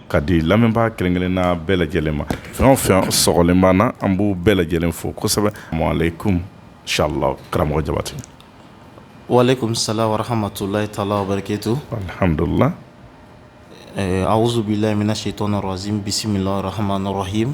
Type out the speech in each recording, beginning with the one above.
ka di lamɛnbaa kelen kelenna bɛɛ lajɛlen ma fɛn o fɛn sɔgɔlen b'an na an b'u bɛɛ lajɛlen fo kosɛbɛ aleyikum salamu karamɔgɔ jabate waleyikum salamu wa rahamatulayi taala wa barakatu alihamdulila awuzubilayi mina setani rajimi bisimilayi rahamani rahimi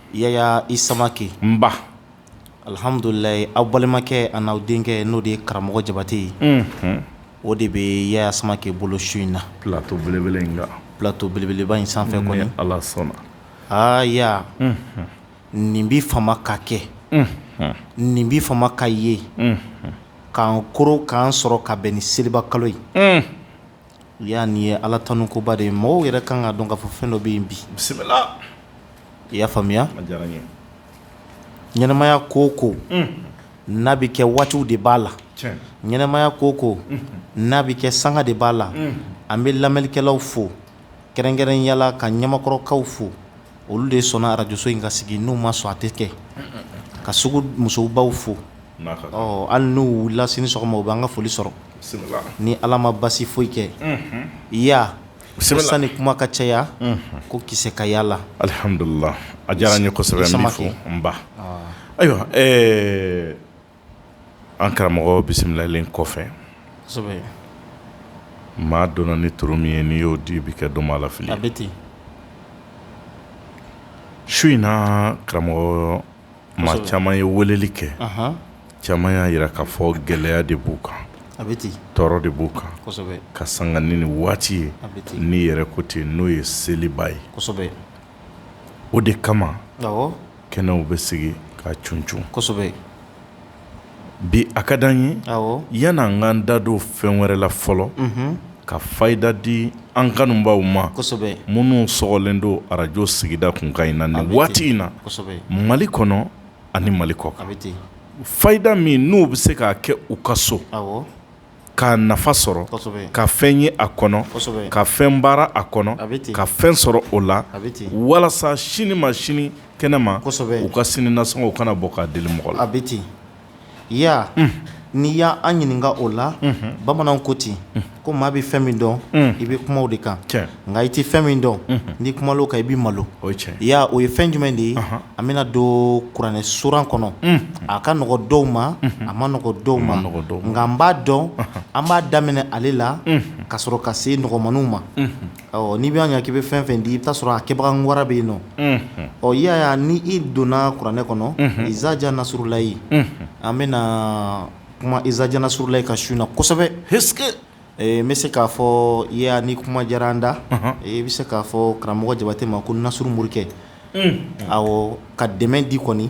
yaya i samakɛ nba alihamdulila aw balimakɛ ani aw denkɛ n'o de ye karamɔgɔ jabate ye o de bɛ yaya samakɛ bolo su in na pilato belebeleba in sanfɛ ala sɔnna aa ya nin bi fama ka kɛ nin bi fama ka ye k'an koro k'an sɔrɔ ka bɛn ni seliba kalo ye ya nin ye ala tanu koba de ye mɔgɔw yɛrɛ kan k'a dɔn k'a fɔ fɛn dɔ bɛ yen bi bisimila i y'a faamuya ɲɛnɛmaya ko o ko n'a bɛ kɛ waatiw de b'a la ɲɛnɛmaya ko o ko n'a bɛ kɛ sanga de b'a la an bɛ lamɛnnikɛlaw fo kɛrɛnkɛrɛnya la ka ɲamakɔrɔkaw fo olu de sɔnna arajoso in ka sigi n'u ma sɔn a tɛ kɛ ka sugu musobaw fo hali n'u wulila sini sɔgɔma u bɛ an ka foli sɔrɔ ni ala ma basi foyi kɛ ya sanni kuma ka caya ko kisɛ ka y'a la alihamdulila a diyara n ye kosɛbɛ n b'i fo nba ayiwa an karamɔgɔ bisimilalen kɔfɛ maa dɔnna ni turu min ye n'i y'o di i bɛ kɛ dɔnbaa lafili a bɛ ten su in na karamɔgɔ maa caman ye weleli kɛ caman y'a jira k'a fɔ gɛlɛya de b'u kan a bɛ ten tɔɔrɔ de b'u kan ka sanga ni nin waati ye n'i yɛrɛ ko ten n'o ye seliba ye o de kama kɛnɛw bɛ sigi k'a cuncun kosɛbɛ bi a ka di an ye yanni an k'an da don fɛn wɛrɛ la fɔlɔ ka fayida di an kanubaw ma kosɛbɛ minnu sɔgɔlen don arajo sigida kunkan in na nin waati in na mali kɔnɔ ani mali kɔkan fayida min n'u bɛ se k'a kɛ u ka so k'a nafa sɔrɔ ka fɛn ye a kɔnɔ ka fɛn baara a kɔnɔ ka fɛn sɔrɔ o la walasa sini ma sini kɛnɛ ma u ka sini nasɔngɔ u kana bɔ k'a deli mɔgɔ la a bɛ ten ya n'i y'an ɲininka o la bamanan ko ten ko maa bɛ fɛn min dɔn i bɛ kuma o de kan nka i tɛ fɛn min dɔn n'i kumala o kan i bɛ malo ya o ye fɛn jumɛn de ye an bɛna don kuranɛ suran kɔnɔ a ka nɔgɔ dɔw ma a ma nɔgɔ dɔw ma nka n b'a dɔn an b'a daminɛ ale la ka sɔrɔ ka se nɔgɔmaninw ma ɔ n'i b'a ye k'i bɛ fɛn o fɛn di i bɛ t'a sɔrɔ a kɛbaga wara bɛ yen nɔ yaya ni i donna kuranɛ kɔnɔ izaja nasurulayi an bɛna kuma izaja nasurulayi kan su in na kosɛbɛ N bɛ se k'a fɔ ya ni kuma diyara an da i bɛ se k'a fɔ karamɔgɔ jabatɛ ma ko nasuru morikɛ awɔ ka dɛmɛ di kɔni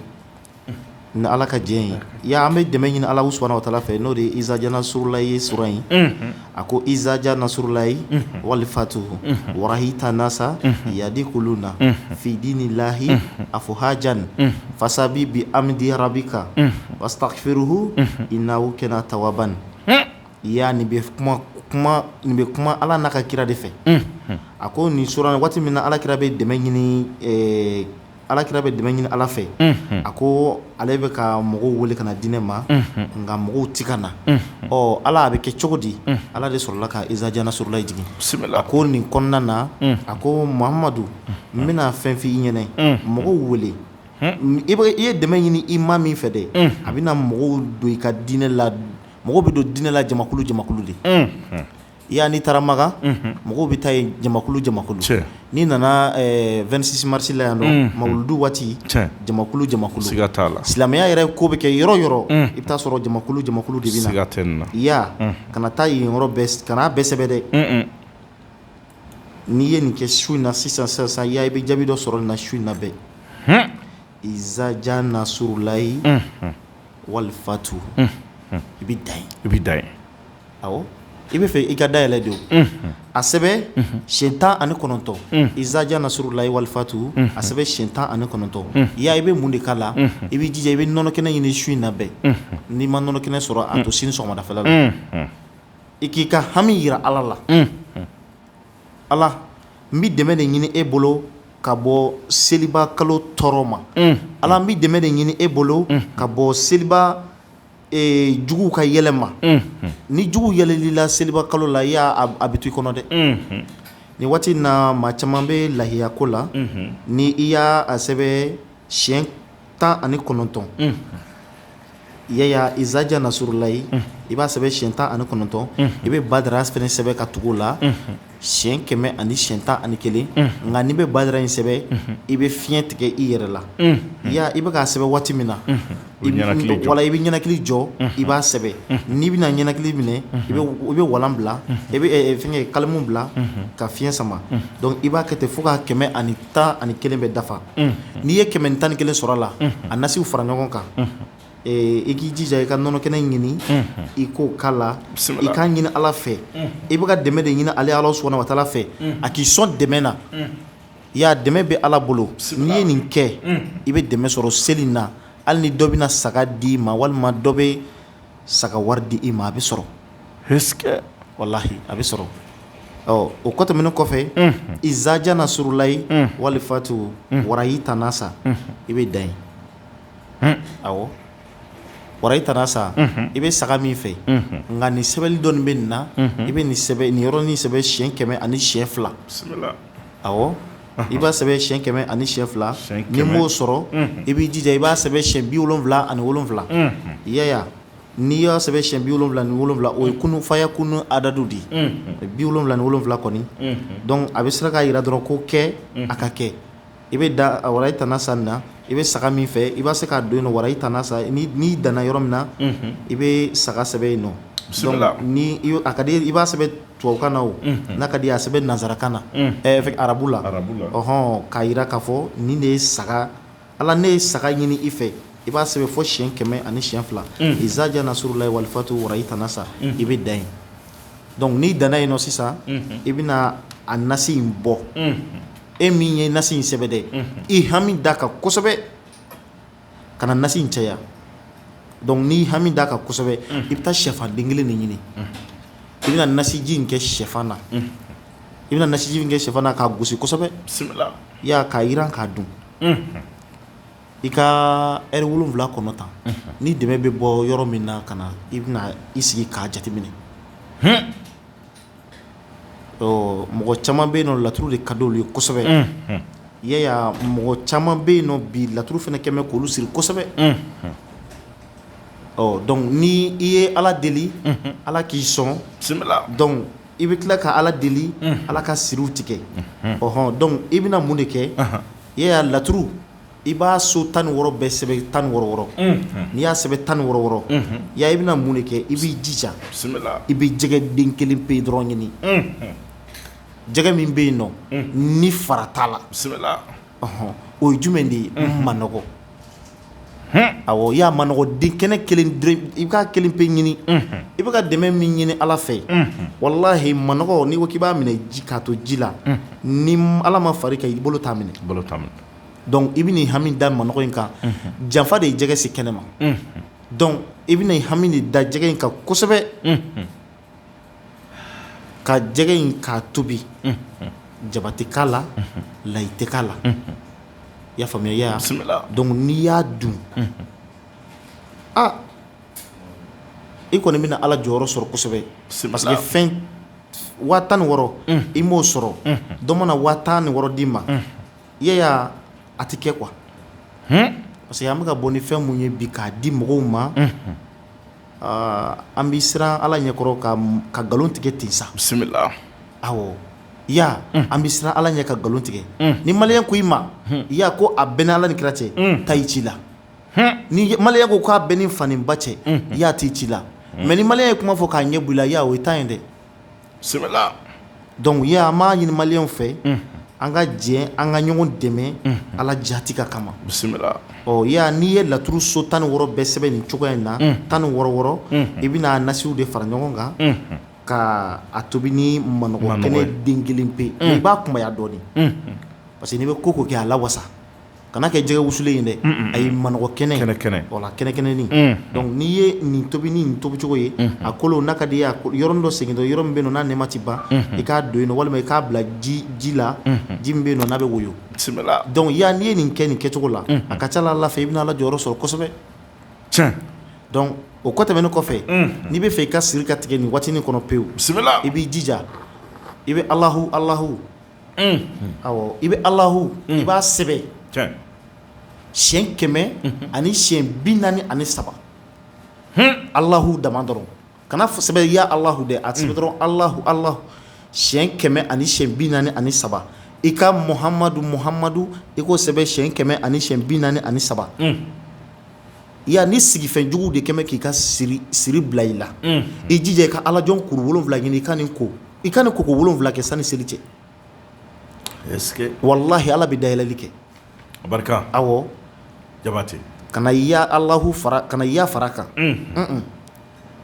ni ala ka jɛn ye ya an bɛ dɛmɛ ɲini ala subahanahu wa taala fɛ n'o de ye izaja nasurulayi ye sura in a ko izaja nasurulayi wali fatuhu warahita nasa yadikuluna fi dinilayi afuwajan fasabi bi amidi rabika wasitagifiruhu inahu kana tawaban Ya nin bɛ kuma ala n'a ka kira de fɛ a ko nin waati min na alakira bɛ dɛmɛ ɲini alakira bɛ dɛmɛ ɲini ala fɛ a ko ale bɛ ka mɔgɔw weele ka na diinɛ ma nka mɔgɔw tɛ ka na ɔ ala a bɛ kɛ cogo di ala de sɔrɔla ka izaja nasurulayi jigin a ko nin kɔnɔna na a ko mahamadu n bɛna fɛn f' i ɲɛna mɔgɔw weele i ye dɛmɛ ɲini i ma min fɛ dɛ a bɛna mɔgɔw don i ka diinɛ la mɔgɔ bɛ don diinɛ la jamakulu jamakulu de ya n'i taara makan mɔgɔ bɛ taa yen jamakulu jamakulu n'i nana 26 marisi la yan nɔ mawuludu waati jamakulu jamakulu la silamɛya yɛrɛ ko bɛ kɛ yɔrɔ yɔrɔ i bɛ t'a sɔrɔ jamakulu jamakulu de bɛ ya kana taa yen kan'a bɛɛ sɛbɛn dɛ n'i ye nin kɛ su in na sisan sisan ya i bɛ jaabi dɔ sɔrɔ nin na su in na bɛɛ izaja nasurulayi wali fatu i bɛ dan yen awɔ i b'a fɛ i ka dayɛlɛ de o a sɛbɛn siyɛn tan ani kɔnɔntɔn izaja nasurulayi wali fatu a sɛbɛn siyɛn tan ani kɔnɔntɔn ya i bɛ mun de k'a la i bɛ jija i bɛ nɔnɔ kɛnɛ ɲini su in na bɛɛ n'i ma nɔnɔ kɛnɛ sɔrɔ a to sini sɔgɔmadafɛla la i k'i ka hami yira ala la ala n bɛ dɛmɛ de ɲini e bolo ka bɔ seliba kalo tɔɔrɔ ma ala n bɛ dɛmɛ de ɲini e bolo ka bɔ seliba juguw ka yɛlɛ ma ni jugu yɛlɛl'i la seliba kalo la ya a bɛ to i kɔnɔ dɛ nin waati na maa caman bɛ layiya ko la ni i y'a a sɛbɛn siyɛn tan ani kɔnɔntɔn ya ya izaja nasurulayi i b'a sɛbɛn siyɛn tan ani kɔnɔntɔn i bɛ badara fɛnɛ sɛbɛn ka tugu o la siyɛn kɛmɛ ani siyɛn tan ani kelen nka n'i bɛ badara in sɛbɛn i bɛ fiɲɛ tigɛ i yɛrɛ la ya i bɛ k'a sɛbɛn waati min na wala i bɛ ɲɛnakili jɔ i b'a sɛbɛn n'i bɛna ɲɛnakili minɛ i bɛ walan bila i bɛ fɛn kalimu bila ka fiɲɛ sama i b'a kɛ ten fo k' kɛmɛ ani tan ani kelen bɛ dafa n'i ye kɛmɛ ni tan ni kelen sɔrɔ a la a nasiw fara ɲɔgɔn kan i k'i jija i ka nɔnɔ kɛnɛ ɲini i k'o k'a la i k'a ɲini ala fɛ i bɛ ka dɛmɛ de ɲini ale ala subahanahu wa taala fɛ a k'i sɔn dɛmɛ na ya dɛmɛ bɛ ala bolo n'i ye nin kɛ i bɛ dɛmɛ sɔrɔ seli na hali ni dɔ bɛna saga d'i ma walima dɔ bɛ saga wari di i ma a bɛ sɔrɔ walahi a bɛ sɔrɔ ɔ o kɔ tɛmɛnen kɔfɛ izaja nasurulayi walifatu warayi tanasa i bɛ dan yen awɔ warayi tanasa i bɛ saga min fɛ nka nin sɛbɛnni dɔɔni bɛ nin na i bɛ nin yɔrɔnin sɛbɛn siyɛn kɛmɛ ani siyɛn fila a i b'a sɛbɛn siyɛn kɛmɛ ani siyɛn fila n'i m'o sɔrɔ i b'i jija i b'a sɛbɛn siyɛn bi wolonwula ani wolonwula i y'a ye n'i y'a sɛbɛn siyɛn bi wolonwula ni wolonwula o ye kun fayakun adadu de ye bi wolonwula ni wolonwula kɔni donc a bɛ se k'a jira dɔrɔn ko kɛ a ka kɛ i bɛ dan warayi tanasa nin na i bɛ saga min fɛ i bɛ se k'a don yen nɔ warayi tanasa n'i danna yɔrɔ min na i bɛ saga sɛbɛn yen nɔ n'a ka di i b'a sɛbɛn tubabukan na o n'a ka di a sɛbɛn nansarakan na ɛ arabu la ɔnhɔn k'a jira k'a fɔ nin de ye saga ala ne ye saga ɲini i fɛ i b'a sɛbɛn fɔ siyɛn kɛmɛ ani siyɛn fila izaja nasurulayi walifatu warayi tanasa i bɛ dan yen donc n'i danna yen nɔ sisan i bɛna a nasi in bɔ e min ye nasi in sɛbɛn dɛ i hami d'a kan kosɛbɛ kana nasi in caya donc n'i hami d'a kan kosɛbɛ i bɛ taa shɛfan den kelen de ɲini i bɛna nasiji in kɛ shɛfan na i bɛna nasiji in kɛ shɛfan na k'a gosi kosɛbɛ y'a k'a jiran k'a dun i ka heure wolonwula kɔnɔ tan ni dɛmɛ bɛ bɔ yɔrɔ min na ka na i bɛna i sigi k'a jateminɛ mɔgɔ caman bɛ yen nɔ laturu de ka di olu ye kosɛbɛ i y'a ye mɔgɔ caman bɛ yen nɔ bi laturu fana kɛmɛ k'olu siri kosɛbɛ ɔ donc ni i ye ala deli ala k'i sɔn donc i bɛ tila ka ala deli ala ka siriw tigɛ ɔnhɔn donc i bɛna mun de kɛ i y'a ye laturu i b'a so tan ni wɔɔrɔ bɛɛ sɛbɛn tan ni wɔɔrɔ n'i y'a sɛbɛn tan ni wɔɔrɔ ya i bɛna mun de kɛ i b'i jija i bɛ jɛgɛ den kelen pe dɔrɔn ɲini jɛgɛ min bɛ yen nɔ ni fara t'a la ɔnhɔn o ye jumɛn de ye manɔgɔ awɔ i y'a manɔgɔ den kɛnɛ i bɛ kelen pe ɲini i bɛ ka dɛmɛ min ɲini ala fɛ walahi manɔgɔ n'i ko k'i b'a minɛ k'a to ji la ni ala ma fara i kan i bolo t'a minɛ donc i bɛna i hami da manɔgɔ in kan janfa de ye jɛgɛ se kɛnɛ ma donc i bɛna i hami de da jɛgɛ in kan kosɛbɛ ka jɛgɛ in k'a tobi jaba tɛ k'a la layi tɛ k'a la i y'a faamu ya donc n'i y'a dun aa i kɔni bɛna ala jɔyɔrɔ sɔrɔ kosɛbɛ parce waa tan ni wɔɔrɔ i m'o sɔrɔ dɔ mana waa tan ni wɔɔrɔ d'i ma i y'a a tɛ kɛ quoi parce que an bɛ ka bɔ ni fɛn min ye bi k'a di mɔgɔw ma aa an bɛ siran ala ɲɛkɔrɔ ka ka nkalon tigɛ ten sa bisimila awɔ ya an bɛ siran ala ɲɛ ka nkalon tigɛ ni maliyɛn ko i ma i y'a ko a bɛ n'ala ni kira cɛ taa i ci la ni maliyɛn ko k'a bɛ n ni fa ni ba cɛ i y'a taa i ci la mais ni maliyɛn ye kuma fɔ k'a ɲɛ bɔ i la ya o y'i ta ye dɛ bisimila dɔnku ye an b'a ɲini maliyɛnw fɛ an ka jɛ an ka ɲɔgɔn dɛmɛ ala jati ka kama bisimila yan n'i ye laturu so tan ni wɔɔrɔ bɛɛ sɛbɛn nin cogoya in na tan ni wɔɔrɔ wɔɔrɔ i bɛna nasiw de fara ɲɔgɔn kan ka a tobi ni manɔgɔ kɛnɛ den kelen pe mais i b'a kunbaya dɔɔnin parce que n'i bɛ ko ko kɛ a la wasa kana kɛ jɛgɛ wusulen ye dɛ ayi manɔgɔ kɛnɛ kɛnɛ kɛnɛ kɛnɛnin dɔnku n'i ye nin tobi ni nin tobicogo ye a kolo n'a ka di i ye yɔrɔnin dɔ segin yɔrɔ min bɛ yen n'a nɛma tɛ ban i k'a don yen walima i k'a bila ji la ji min bɛ yen n'a bɛ woyo dɔnku y'a n'i ye nin kɛ nin kɛcogo la a ka ca ala fɛ i bɛna ala jɔyɔrɔ sɔrɔ kosɛbɛ tiɲɛ o kɔ tɛmɛnen kɔfɛ n'i bɛ fɛ i ka siri ka tigɛ nin waatinin kɔnɔ pewu i b'i jija i bɛ alahu alahu i bɛ alahu i b'a sɛbɛn siɲɛ kɛmɛ ani siɲɛ bi naani ani saba alahu dama dɔrɔn kana sɛbɛn ya alahu dɛ a sɛbɛn dɔrɔn alahu alahu siɲɛ kɛmɛ ani siɲɛ bi naani ani saba i ka muhamadu muhamadu i k'o sɛbɛn siɲɛ kɛmɛ ani siɲɛ bi naani ani saba yan ni sigifɛn jugu de kɛlen bɛ k'i ka siri bila i la i jija i ka alajɔn kuru wolonwula ɲini i ka nin ko i ka nin ko ko wolonwula kɛ sanni seli cɛ walahi ala bɛ dayɛlɛli kɛ barika awɔ jabatɛ kana ya alahu fara kana ya fara kan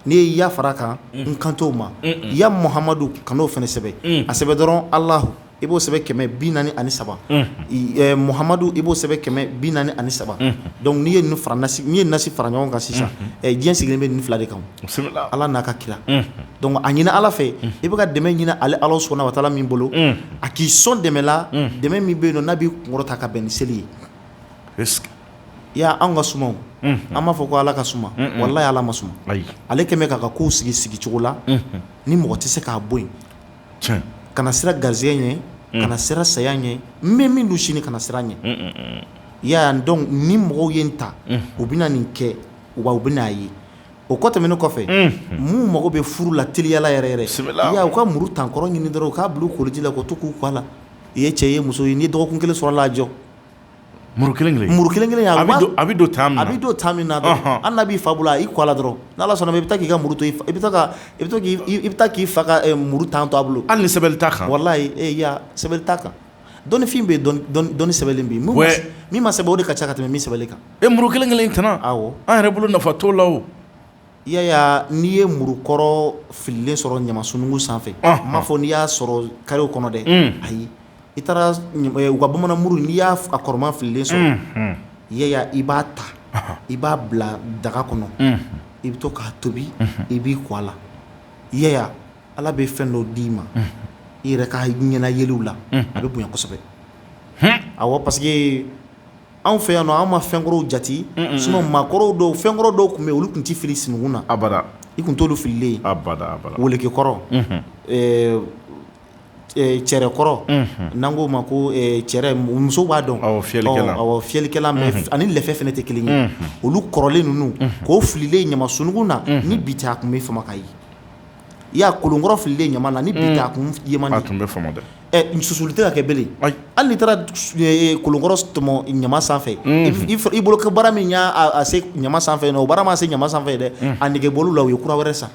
n'i ye ya fara kan n kan t'o ma ya muhamadu kan'o fana sɛbɛn a sɛbɛn dɔrɔn alahu i b'o sɛbɛn kɛmɛ bi naani ani saba muhamadu i b'o sɛbɛn kɛmɛ bi naani ani saba dɔnku n'i ye n'i ye nasi fara ɲɔgɔn kan sisan diɲɛ sigilen bɛ nin fila de kan ala n'a ka kira dɔnku a ɲini ala fɛ i bɛ ka dɛmɛ ɲini ale ala subahana watala min bolo a k'i sɔn dɛmɛ la dɛmɛ min bɛ yen nɔ n'a b'i kunkɔrɔta ka bɛn ni seli ye i y'a an ka suma an b'a fɔ ko ala ka suma walahi ala ma suma ale kɛlen bɛ k'a ka kow sigi sigi cogo la ni mɔgɔ tɛ se k'a bɔ yen tiɲɛ, kana siran garisɛgɛ ɲɛ, unhun, kana siran saya ɲɛ, n bɛ mun dun sini kana siran a ɲɛ, un un un, i y'a ye wa donc ni mɔgɔw ye n ta, unhun, u bɛna nin kɛ wa u bɛna a ye o kɔ tɛmɛnen kɔfɛ, unhun, minnu mago bɛ furu la teliya la yɛrɛ yɛrɛ, bisimila, i y'a ye u ka muru tankɔrɔ ɲini dɔrɔn u k'a bila u koliji la k'u to k'u ko a la, i ye cɛ ye i ye muso ye n'i ye dɔgɔkun kelen sɔrɔ a la a jɔ Muru kelen kelen muru kelen kelen a bɛ don a bɛ don tan a bɛ don temps min na hali n'a b'i fa bolo i ko a la dɔrɔn n' ala sɔnna i bɛ taa k'i ka muru i bɛ i bɛ taa k'i fa ka muru tan to a bolo hali ni sɛbɛnni t'a kan wallahi sɛbɛnni t'a kan dɔnnifin bɛ yen dɔnni sɛbɛnlen bɛ yen min ma sɛbɛn o de ka ca ka tɛmɛ min sɛbɛnlen kan e muru kelen kelen tɛm an yɛrɛ bolo nafa t'o la Yaya n'i ye murukɔrɔ fililen sɔrɔ ɲama sunugun sanfɛ n m'a fɔ n'i y'a sɔrɔ karew kɔnɔ dɛ ayi I taara u ka bamanan muru n'i y'a a kɔrɔman fililen sɔrɔ Yaya i b'a ta i b'a bila daga kɔnɔ i bɛ to k'a tobi i b'i ko a la Yaya ala bɛ fɛn dɔ d'i ma i yɛrɛ ka ɲɛna yeliw la a bɛ bonya kosɛbɛ awɔ parce que anw fɛ yan nɔ anw ma fɛnkɔrɔw jate sinon maakɔrɔw dɔw fɛnkɔrɔ dɔw tun bɛ yen olu tun tɛ fili sunugun na a i tun t'olu fililen ye welekekɔrɔ cɛrɛkɔrɔ n'an k'o ma ko cɛrɛ musow b'a dɔn fiyɛlikɛlan ani lɛfɛ fana tɛ kelen ye olu kɔrɔlen ninnu k'o fililen ɲama sunugun na ni bi tɛ a tun bɛ fama ka ye Yaya kolonkɔrɔ fililen ɲama na ni bi tɛ a kun tun bɛ fama susuli tɛ ka kɛ belen hali n'i taara kolonkɔrɔ tɔmɔ ɲama sanfɛ i bolo ko baara min y'a se ɲama sanfɛ o baara m'a se ɲama sanfɛ dɛ a nege bɔl'u la u ye kura wɛrɛ san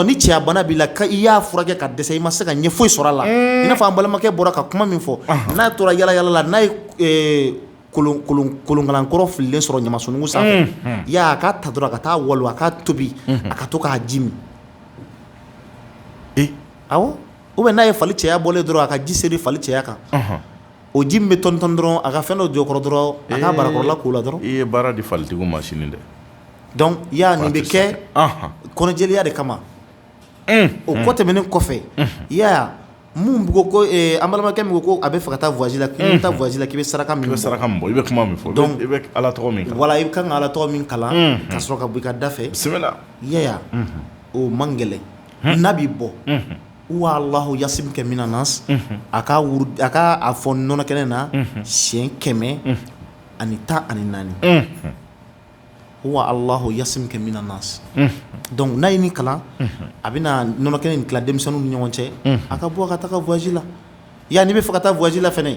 ni cɛya bana b'i la i y'a furakɛ ka dɛsɛ i ma se ka ɲɛ foyi sɔrɔ a la i n'a fɔ an balimakɛ bɔra ka kuma min fɔ n'a tora yala yala la n'a ye kolonkalankɔrɔ fililen sɔrɔ ɲama sunugun sanfɛ a k'a ta dɔrɔn a ka t'a walon a k'a tobi a ka to k'a ji min awɔ ou bien n'a ye fali cɛya bɔlen dɔrɔn a ka ji seri fali cɛya kan O ji min bɛ tɔnitɔni dɔrɔn a ka fɛn dɔ jɔ o kɔrɔ dɔrɔn a k'a barakɔrɔla k'o la dɔrɔn i ye baara di falitigiw ma sini dɛ dɔnku Yaya nin bɛ kɛ kɔnɔjɛya de kama o kɔ tɛmɛnen kɔfɛ Yaya mun ko ko an balimakɛ min ko a bɛ fɛ ka taa voyage la k'i bɛ taa voyage la k'i bɛ saraka i bɛ saraka min bɔ i bɛ kuma min fɔ i bɛ ala tɔgɔ min voilà i ka kan ka ala tɔgɔ min kalan ka sɔrɔ ka bɔ i ka da fɛ bisimila Yaya o man gɛlɛn n'a b'i bɔ wa alahu yasimuka mina nasi a ka a ka a fɔ nɔnɔ kɛnɛ na siɲɛ kɛmɛ ani tan ani naani wa alahu yasimuka mina nasi dɔnku n'a ye nin kalan a bɛna nɔnɔ kɛnɛ in tila denmisɛnninw ni ɲɔgɔn cɛ a ka bɔ a ka taa voyage la yan n'i bɛ fɛ ka taa voyage la fana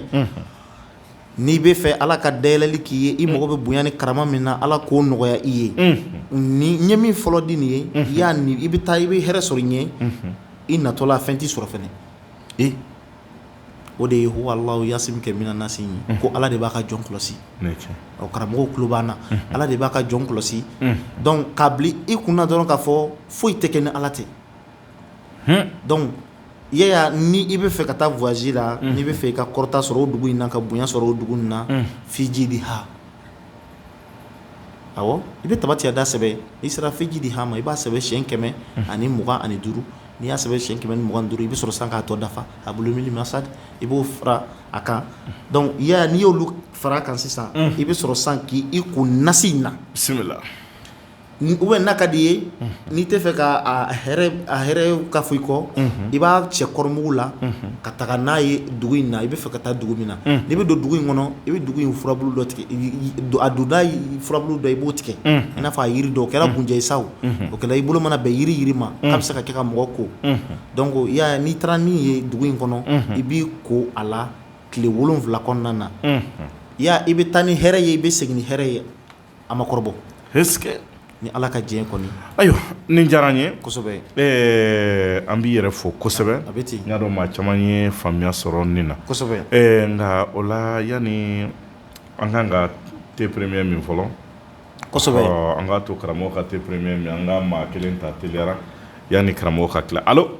n'i bɛ fɛ ala ka dayɛlɛli k'i ye i mago bɛ bonya ni karama min na ala k'o nɔgɔya i ye ni n ye min fɔlɔ di nin ye Yaya n'i bɛ taa i bɛ hɛrɛ sɔrɔ i ɲɛ i natɔla fɛn t'i sɔrɔ fana o de ye wa alahu yasimuka mina nasi ye ko ala de b'a ka jɔn kɔlɔsi o karamɔgɔw tulo b'an na ala de b'a ka jɔn kɔlɔsi dɔnku k'a bila i kun na dɔrɔn k'a fɔ foyi tɛ kɛ ni ala tɛ ni i bɛ fɛ ka taa voyage la n'i bɛ fɛ i ka kɔrɔta sɔrɔ o dugu in na ka bonya sɔrɔ o dugu in na fii jiidiha i bɛ tabati yada sɛbɛn i sera fii jiidiha ma i b'a sɛbɛn siyɛn kɛmɛ ani mugan ani duuru n'i y'a sɛbɛn siyɛn kɛmɛ ni mugan ni duuru i bɛ sɔrɔ san k'a tɔ dafa hablun min masad i b'o fara a kan donc Yaya n'i y'olu fara a kan sisan i bɛ sɔrɔ san k'i ko nasi in na bisimila ou bien n'a ka di i ye n'i tɛ fɛ ka hɛrɛ ka fɔ i kɔ i b'a cɛ kɔrɔmugu la ka taga n'a ye dugu in na i bɛ fɛ ka taa dugu min na n'i bɛ don dugu in kɔnɔ i bɛ dugu in furabulu dɔ tigɛ a donda furabulu dɔ i b'o tigɛ i n'a fɔ jiri dɔ o kɛra kunjɛ sa o kɛra i bolo mana bɛn jiri jiri ma a bɛ se ka kɛ ka mɔgɔ ko donc Yaya n'i taara nin ye dugu in kɔnɔ i b'i ko a la tile wolonwula kɔnɔna na Yaya i bɛ taa ni hɛrɛ ye i bɛ segin ni hɛrɛ ye A ma kɔrɔbɔ ni ala ka diɲɛ kɔni ayiwa nin diyara n ye an b'i yɛrɛ fo kosɛbɛ a bɛ ten n y'a dɔn maa caman ye faamuya sɔrɔ nin na nka o la yanni an ka ka te premier min fɔlɔ an k'a to karamɔgɔ ka te premier min an ka maa kelen ta teliyara yanni karamɔgɔ ka tila alo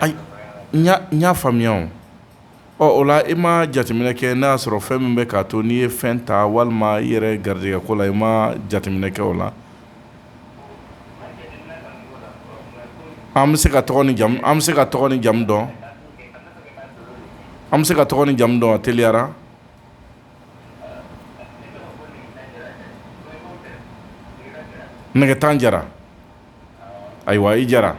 ayi n y'a faamuya ɔ o la i ma jateminɛ kɛ n'a y'a sɔrɔ fɛn min bɛ k'a to n'i ye fɛn ta walima i yɛrɛ garijɛgɛ ko la i ma jateminɛ kɛ o la an bɛ se ka tɔgɔ an bɛ se ka tɔgɔ ni jamu dɔn an bɛ se ka tɔgɔ ni jamu dɔn teliyara Nɛgɛtan Jara ayiwa i Jara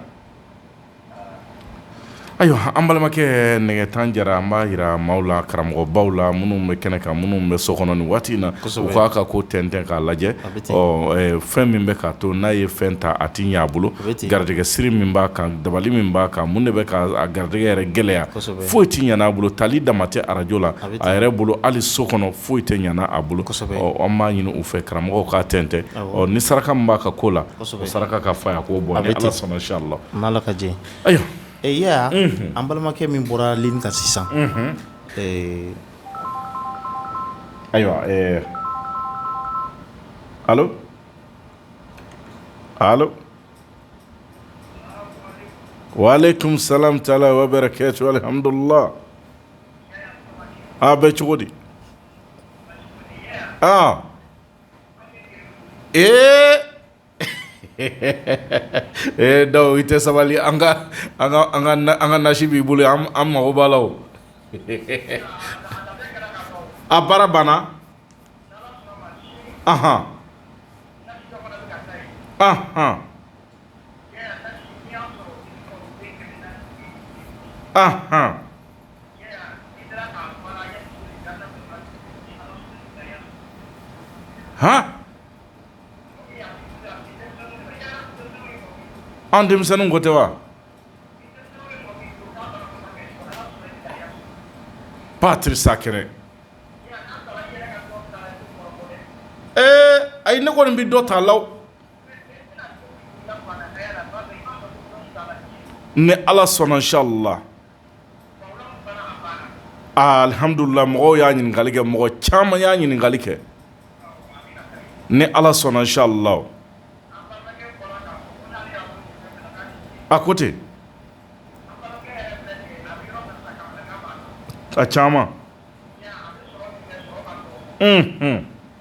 ayiwa an balimakɛ Nɛgɛtan Jara an b'a jira maaw la karamɔgɔbaw la minnu bɛ kɛnɛ kan minnu bɛ so kɔnɔ nin waati in na u k'a ka ko tɛntɛn k'a lajɛ ɔ fɛn min bɛ k'a to n'a ye fɛn ta a tɛ ɲɛ a bolo garijɛgɛ siri min b'a kan dabali min b'a kan mun de bɛ k'a garijɛgɛ yɛrɛ gɛlɛya foyi tɛ ɲɛ a bolo tali dama tɛ arajo la a yɛrɛ bolo hali so kɔnɔ foyi tɛ ɲɛ a bolo an b'a ɲini u fɛ karamɔgɔw k'a tɛntɛn ɔ ni saraka b'a ka ko la saraka ka fa a k'o bɔ a bɛ sama si la n' ka jɛ ayiwa e an balimakɛ min bɔra li ka sisan ayiwa wa kunmisala la wa bɛ kɛ cogo amidula a bɛ cogo di aa ee ee daw i tɛ sabali an ka an ka nasi b'i bolo an mago b'a la a baara banna aɔn aɔn An denmisɛnninw ko tɛ wa patisakɛnɛ ee ayi ne kɔni bɛ dɔ ta la ni ala sɔnna inshallah alihamdulilahi mɔgɔw y'a ɲininkali kɛ mɔgɔ caman y'a ɲininkali kɛ ni ala sɔnna inshallah a ko ten a caman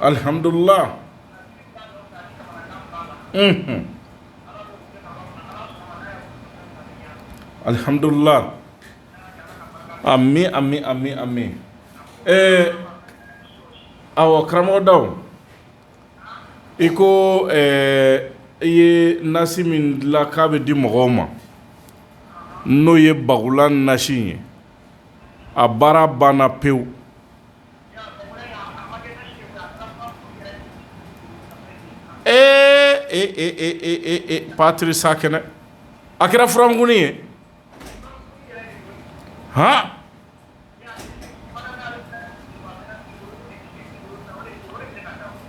Alihamdulila alihamdulila a mi a mi a mi a mi ɛɛ aw karamɔgɔda i ko i ye nasi min dilan k'a bɛ di mɔgɔw ma n'o ye bagula nasi ye a baara banna pewu ee e patisakɛnɛ a kɛra furamugunin ye hɔn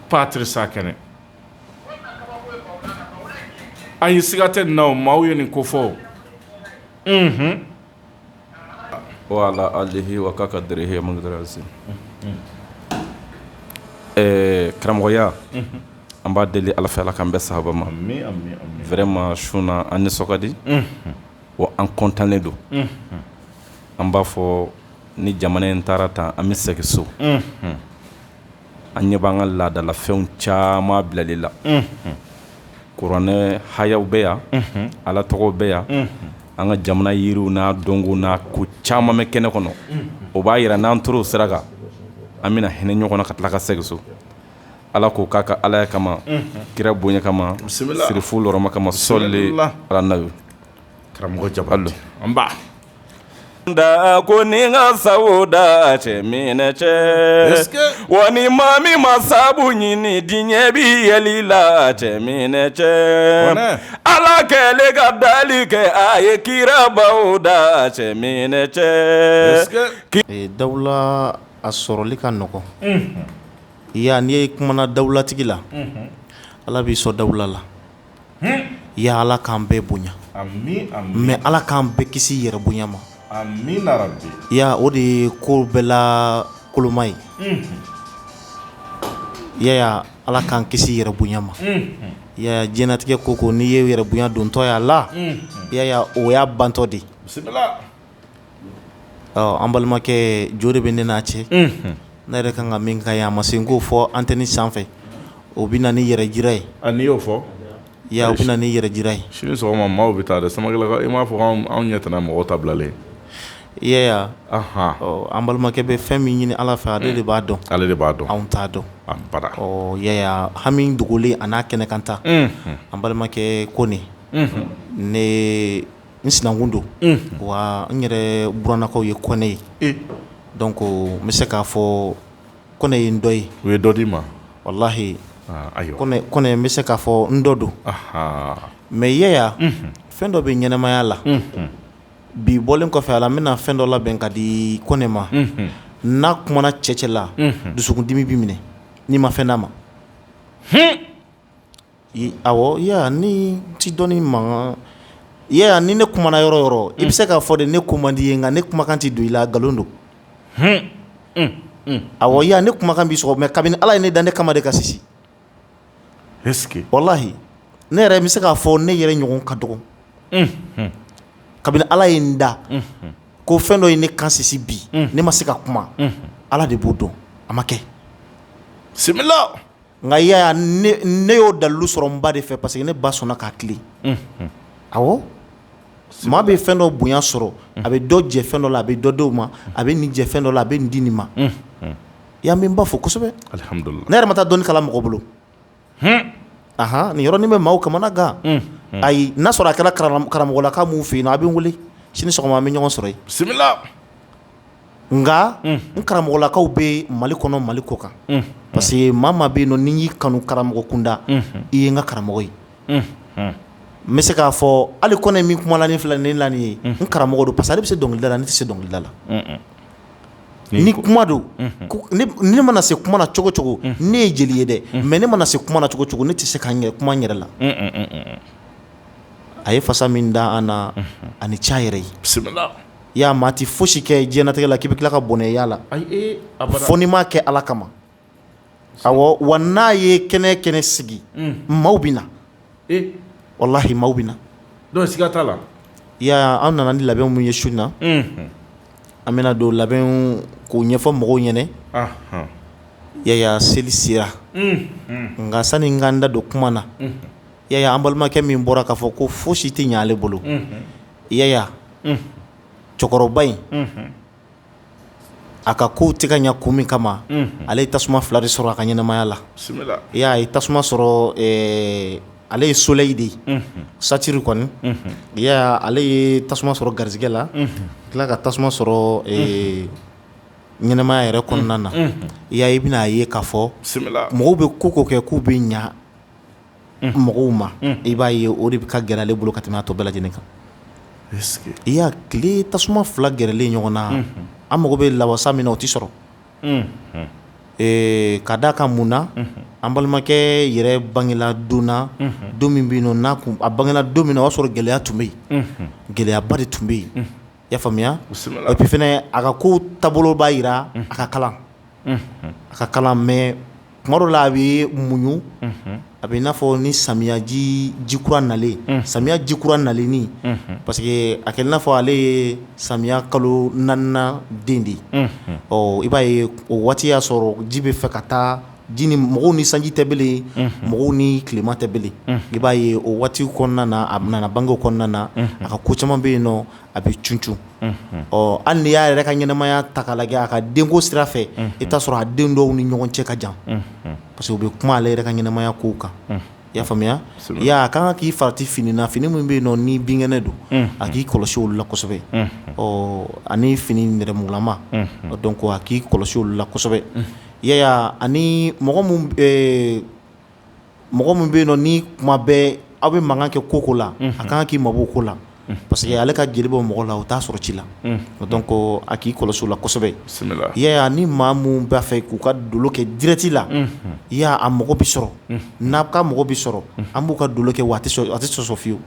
Patisakɛnɛ ayi siga tɛ n na o maaw ye nin ko fɔ wa ala alihi wa k'a ka g ɛɛ karamɔgɔya an b'a deli ala fɛ ala ka an bɛɛ saba ma vraiment su in na an nisɔn ka di o an kɔntannen don an b'a fɔ ni jamana in taara tan an bɛ segin so an ɲɛ b'an ka laadalafɛnw caman bilali la kuranɛ hayaw bɛ yan ala tɔgɔw bɛ yan an ka jamana yiriw n'a dɔnko n'a ko caman bɛ kɛnɛ kɔnɔ o b'a yira n'an tor'o sira kan an bɛna hinɛ ɲɔgɔn na ka tila ka segin so ala k'o k'a ka alaya kama kira bonya kama sirifu hɔrɔma kama sɔlen karamɔgɔ ja don Da ko ni n ka sa da cɛ minɛ cɛ wa ni maa min ma sabu ɲini diɲɛ bɛ yɛlɛ i la cɛ minɛ cɛ ala kɛlen ka dali kɛ a ye kirabaw da cɛ minɛ cɛ dawula a sɔrɔli ka nɔgɔn ya n'i ye kumana dawulatigi la ala b'i sɔn dawula la ya ala k'an bɛɛ bonya mais ala k'an bɛɛ kisi yɛrɛ bonya ma ya o de ye ko bɛɛ la koloma ye ya ala k'an kisi yɛrɛ bonya ma ya diɲɛnatigɛ ko ko n'i ye yɛrɛ bonya dontɔ y'a la ya o y'a bantɔ de An balimakɛ jo de bɛ ne n'a cɛ ne yɛrɛ kan ka min k'a ye a ma se n k'o fɔ antɛni sanfɛ o bɛ na ni yɛrɛ jira ye n'i y'o fɔ o bɛ na ni yɛrɛ jira ye sini sɔgɔma maaw bɛ taa sama i m'a fɔ anw ɲɛ tɛna mɔgɔ ta bilalen i an balimakɛ bɛ fɛn min ɲini ala fɛ ale de b'a dɔn ale de b'a dɔn anw t'a dɔn hami dogolen a n'a kɛnɛkanta an balimakɛ ko ne N sinankun don wa n yɛrɛ buranlakaw ye kɔnɛ ye donc n bɛ se k'a fɔ kɔnɛ ye n dɔ ye u ye dɔ di n ma walahi kɔnɛ n bɛ se k'a fɔ n dɔ don mais Yaya fɛn dɔ bɛ ɲɛnɛmaya la bi bɔlen kɔfɛ a la n bɛna fɛn dɔ labɛn k'a di kɔnɛ ma n'a kumana cɛ cɛ la dusukundimi b'i minɛ n'i ma fɛn d'a ma Ɔwɔ nin tɛ dɔnni mankan ni ne kumana yɔrɔ yɔrɔ i bɛ se k'a fɔ de ne ko man d'i ye nka ne kumakan tɛ don i la nkalon don a ne kumakan b'i sɔgɔ mais kabini ala ye ne dan ne kan ma deli ka sisi walahi ne yɛrɛ bɛ se k'a fɔ ne yɛrɛ ɲɔgɔn ka dɔgɔ kabini ala ye n dan ko fɛn dɔ ye ne kan sisi bi ne ma se ka kuma ala de b'o dɔn a ma kɛ sɛ nka Yaya ne y'o dalilu sɔrɔ n ba de fɛ parce que ne ba sɔnna ka tilen, unhun, awɔ, maa bɛ fɛn dɔ bonya sɔrɔ a bɛ dɔ jɛ fɛn dɔ la a bɛ dɔ di o ma a bɛ nin jɛ fɛn dɔ la a bɛ nin di nin ma, unhun, ya n bɛ n ba fo kosɛbɛ, alihamudulila, ne yɛrɛ ma taa dɔnni kalan mɔgɔ bolo, hun, anhan, nin yɔrɔnin bɛ maaw kamana gan, unhun, ayi n'a sɔrɔ a kɛra karamɔgɔlaka min fɛ yen a bɛ n wele sini sɔgɔma an bɛ ɲɔgɔn sɔrɔ yen, bisimila nka n karamɔgɔlakaw bɛ mali kɔnɔ mali kɔ kan parce que maa maa bɛ yen ni n y'i kanu karamɔgɔ kunda i ye n ka karamɔgɔ ye n bɛ se k'a fɔ ali kɔnɛ min kumalen filɛ nin na nin ye n karamɔgɔ don parce que ale bɛ se dɔnkilida la n tɛ se dɔnkilida la ni kuma don ne mana se kuma na cogo cogo ne ye jeli ye dɛ mais ne mana se kuma na cogo cogo ne tɛ se ka kuma n yɛrɛ la a ye fasa min da an na ani ca yɛrɛ ye y'a maa tɛ foyi si kɛ diɲɛnatigɛ la k'i bɛ tila ka bɔnɛ a la fo n'i m'a kɛ ala kama awa n'a ye kɛnɛ kɛnɛ sigi maaw bɛ na wallahi maaw bɛ na siga t'a la ya an nana ni labɛn min ye su na an bɛna dɔ labɛn k'o ɲɛfɔ mɔgɔw ɲɛna yaya seli sera nka sani n ka n da don kuma na yaya an balimakɛ min bɔra k'a fɔ ko fosi tɛ ɲa ale bolo yaya cɛkɔrɔba in a ka kow tɛ ka ɲɛ kun min kama ale ye tasuma fila de sɔrɔ a ka ɲɛnamaya la i y'a ye tasuma sɔrɔ ale ye soleil de ye satiri kɔni yaya ale ye tasuma sɔrɔ garijɛgɛ la tila ka tasuma sɔrɔ ɲɛnamaya yɛrɛ kɔnɔna na ya i bɛna a ye k'a fɔ mɔgɔw bɛ ko o ko kɛ k'u bɛ ɲɛ mɔgɔw ma i b'a ye o de bɛ ka gɛrɛ ale bolo ka tɛmɛ a tɔ bɛɛ lajɛlen kan i y'a tile tasuma fila gɛrɛlen ɲɔgɔn na an mago bɛ lawasa min na o tɛ sɔrɔ ka d'a kan mun na an balimakɛ yɛrɛ bangela don na don min bɛ yen nɔ a bangela don min na o y'a sɔrɔ gɛlɛya tun bɛ yen gɛlɛyaba de tun bɛ yen y'a faamuya et puis fɛnɛ a ka ko taabolo b'a jira a ka kalan a ka kalan mais tuma dɔ la a bɛ muɲu a bɛ i n'a fɔ ni samiyaji jikura nalen samiya jikura nalen ni parce que a kɛlen i n'a fɔ ale ye samiya kalo naaninan den de ye ɔ i b'a ye o waati y'a sɔrɔ ji bɛ fɛ ka taa ji ni mɔgɔw ni sanji tɛ belen mɔgɔw ni tilema tɛ belen i b'a ye o waati kɔnɔna na a nana bange o kɔnɔna na a ka ko caman bɛ yen nɔ a bɛ cuncu hali n'i y'a yɛrɛ ka ɲɛnamaya ta k'a lajɛ a ka denko sira fɛ i bɛ t'a sɔrɔ a den dɔw ni ɲɔgɔn cɛ ka jan parce que u bɛ kuma ale yɛrɛ ka ɲɛnamaya kow kan i y'a faamuya a ka kan k'i farati fini na fini min bɛ yen nɔ ni binkɛnɛ don a k'i kɔlɔsi olu la kosɛbɛ ɔ ani fini nɛrɛmugulama donc a k'i kɔlɔsi olu la kosɛbɛ yaya ani mɔgɔ mɔgɔ min bɛ yen nɔ ni kuma bɛɛ aw bɛ mankan kɛ ko ko la a kan k'i mabɔ ko la parce que ale ka jeli bɔ mɔgɔ la o t'a sɔrɔ ci la donc a k'i kɔlɔsi o la kosɛbɛ yaya ni maa min b'a fɛ k'u ka dolo kɛ direct la i y'a a mɔgɔ bɛ sɔrɔ n'a ka mɔgɔ bɛ sɔrɔ an b'u ka dolo kɛ wa a tɛ sɔsɔ fiyewu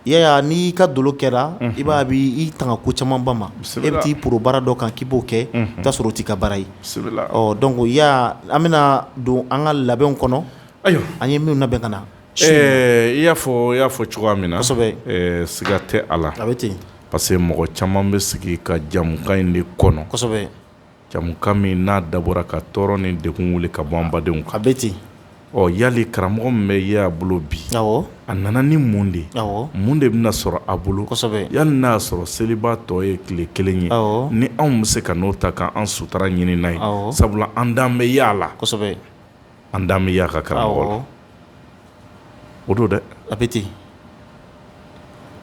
Yaya n'i ka dolo kɛra i b'a b'i tanga ko camanba ma e bɛ t'i poro baara dɔ kan k'i b'o kɛ ka sɔrɔ o t'i ka baara ye donc Yaya an bɛna don an ka labɛnw kɔnɔ ayiwa an ye minw labɛn ka na i y'a fɔ i y'a fɔ cogoya min na siga tɛ a la a bɛ ten pa parce que mɔgɔ caman bɛ sigi ka jamukan in de kɔnɔ jamukan min n'a dabɔra ka tɔɔrɔ ni degun wuli ka bɔ an badenw kan a bɛ ten ɔ yali karamɔgɔ min bɛ Yaya bolo bi a nana ni mun de ye mun de bɛna sɔrɔ a bolo yali n'a sɔrɔ seliba tɔ ye tile kelen ye ni anw bɛ se ka n'o ta k'an sutura ɲini n'a ye sabula an dan bɛ Yaya la an dan bɛ Yaya ka karamɔgɔ la o don dɛ a bɛ ten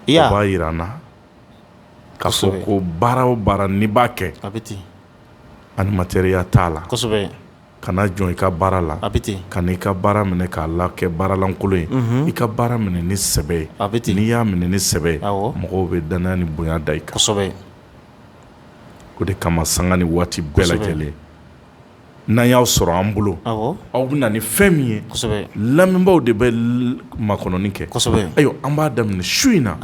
o b'a jira an na k'a fɔ ko baara o baara n'i b'a kɛ a bɛ ten ali matériel t'a la kana jɔn i ka baara la a bɛ ten kan'i ka baara minɛ k'a la kɛ baaralankolon ye i ka baara minɛ ni sɛbɛ ye a bɛ ten n'i y'a minɛ ni sɛbɛ ye mɔgɔw bɛ dannaya ni bonya da i kan o de kama sanga ni waati bɛɛ lajɛlen n'an y'aw sɔrɔ an bolo aw bɛ na ni fɛn min ye lamɛnbaaw de bɛ makɔnɔni kɛ ayiwa an b'a daminɛ su in na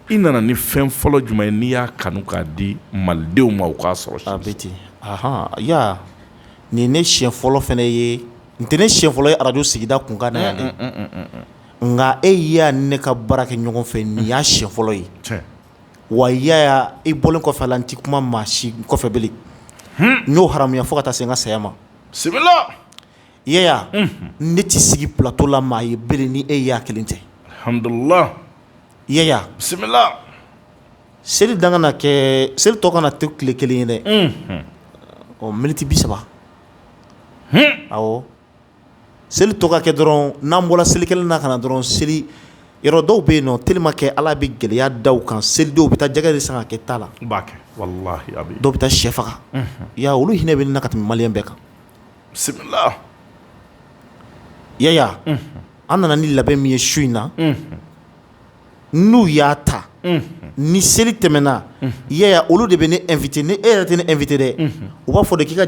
i nana ni fɛn fɔlɔ jumɛn ye n'i y'a kanu k'a di malidenw ma u k'a sɔrɔ a bɛ ten Yaya nin ne siɲɛ fɔlɔ fana ye n tɛ ne siɲɛ fɔlɔ ye arajo Sigida Kunkan na yan dɛ nka e Yaya ni ne ka baara kɛ ɲɔgɔn fɛ nin y'a siɲɛ fɔlɔ ye wa Yaya i bɔlen kɔfɛ a la n tɛ kuma maa si kɔfɛ bilen, hunn, n y'o haramuya fo ka taa se n ka saya ma, bisimila, Yaya, unhun, ne tɛ sigi plateau la maa ye bilen ni e Yaya kelen tɛ, alihamidulilahi, Yaya, bisimila, seli dan kana kɛ seli tɔ kana to tile kelen ye dɛ, unhun, ɔ miniti bi saba, hun, awɔ seli tɔ ka kɛ dɔrɔn n'an bɔra selikɛnɛ na ka na dɔrɔn seli yɔrɔ dɔw bɛ yen nɔ tellement que ala bɛ gɛlɛya da u kan seli dɔw bɛ taa jɛgɛ de san ka kɛ ta la dɔw bɛ taa shɛ faga Yaya olu hinɛ bɛ ne na ka tɛmɛ maliyɛn bɛɛ kan Yaya an nana ni labɛn min ye su in na n'u y'a ta ni seli tɛmɛna Yaya olu de bɛ ne inviter ni e yɛrɛ tɛ ne inviter dɛ u b'a fɔ de k'i ka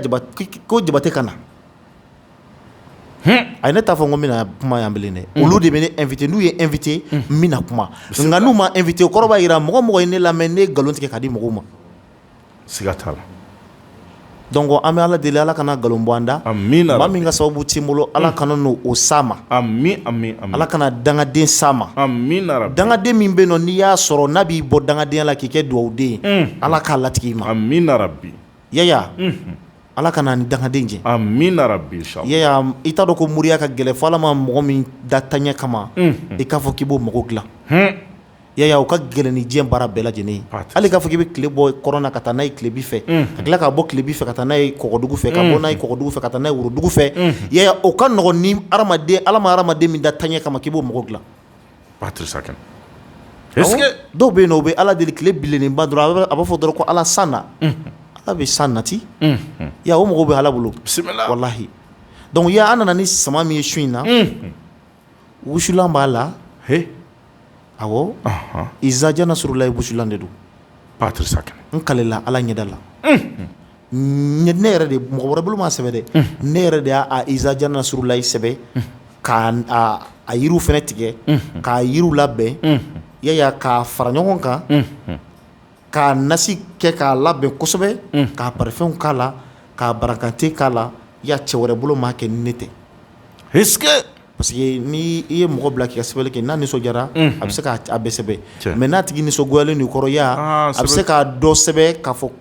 ko Jabate ka na A ye ne t'a fɔ n ko n bɛna kuma yan bilen dɛ olu de bɛ ne inviter n'u ye n inviter n bɛna kuma nka n'u ma n inviter o kɔrɔ b'a jira mɔgɔ mɔgɔ ye ne lamɛn ne ye nkalon tigɛ k'a di mɔgɔw ma siga t'a la donc an bɛ ala deli ala kana nkalon bɔ an da maa min ka sababu t'i bolo ala kana n'o s'a ma ala kana dangaden s'a ma dangaden min bɛ yen nɔ n'i y'a sɔrɔ n'a b'i bɔ dangadenya la k'i kɛ dugawuden ye ala k'a latig'i ma bi yaya ala kana an ni dangaden jɛ yaya i t'a dɔn ko moriya ka gɛlɛn fo ala ma mɔgɔ min da taɲɛ kama i k'a fɔ k'i b'o mago dila yaya o ka gɛlɛn ni diɲɛ baara bɛɛ lajɛlen ye hali k'a fɔ k'i bɛ tile bɔ kɔrɔn na ka taa n'a ye tilebi fɛ ka tila k'a bɔ tilebi fɛ ka taa n'a ye kɔgɔdugu fɛ ka bɔ n'a ye kɔgɔdugu fɛ ka taa n'a ye worodugu fɛ yaya o ka nɔgɔn ni hadamaden ala ma hadamaden min da taɲɛ kama k'i b'o mago dila Ba tɛ sa kɛ dɔw bɛ yen o bɛ ala deli tile bilenba dɔrɔn a b'a fɔ dɔrɔn ko ala san na ala bɛ san nati ya o mɔgɔw bɛ ala bolo bisimila walahi donc ya an nana ni sama min ye su in na wusulan b'a la awɔ izaja nasurulayi wusulan de don ba tɛ sa n kalela ala ɲɛda la ne yɛrɛ de mɔgɔ wɛrɛ bolo m'a sɛbɛ dɛ ne yɛrɛ de y'a izaja nasurulayi sɛbɛ k'a yiriw fana tigɛ k'a yiriw labɛn yaya k'a fara ɲɔgɔn kan k'a nasi kɛ k'a labɛn kosɛbɛ ka parfum k'a la ka barakante k'a la ya cɛ wɛrɛ bolo m'a kɛ ni ne tɛ parce que n' i ye mɔgɔ bila k'i ka sɛbɛnni kɛ n'a nisɔndiyara a bɛ se k'a bɛɛ sɛbɛn mais n'a tigi nisɔngoyalen i kɔrɔ ya a bɛ se k'a dɔ sɛbɛn ka fɔ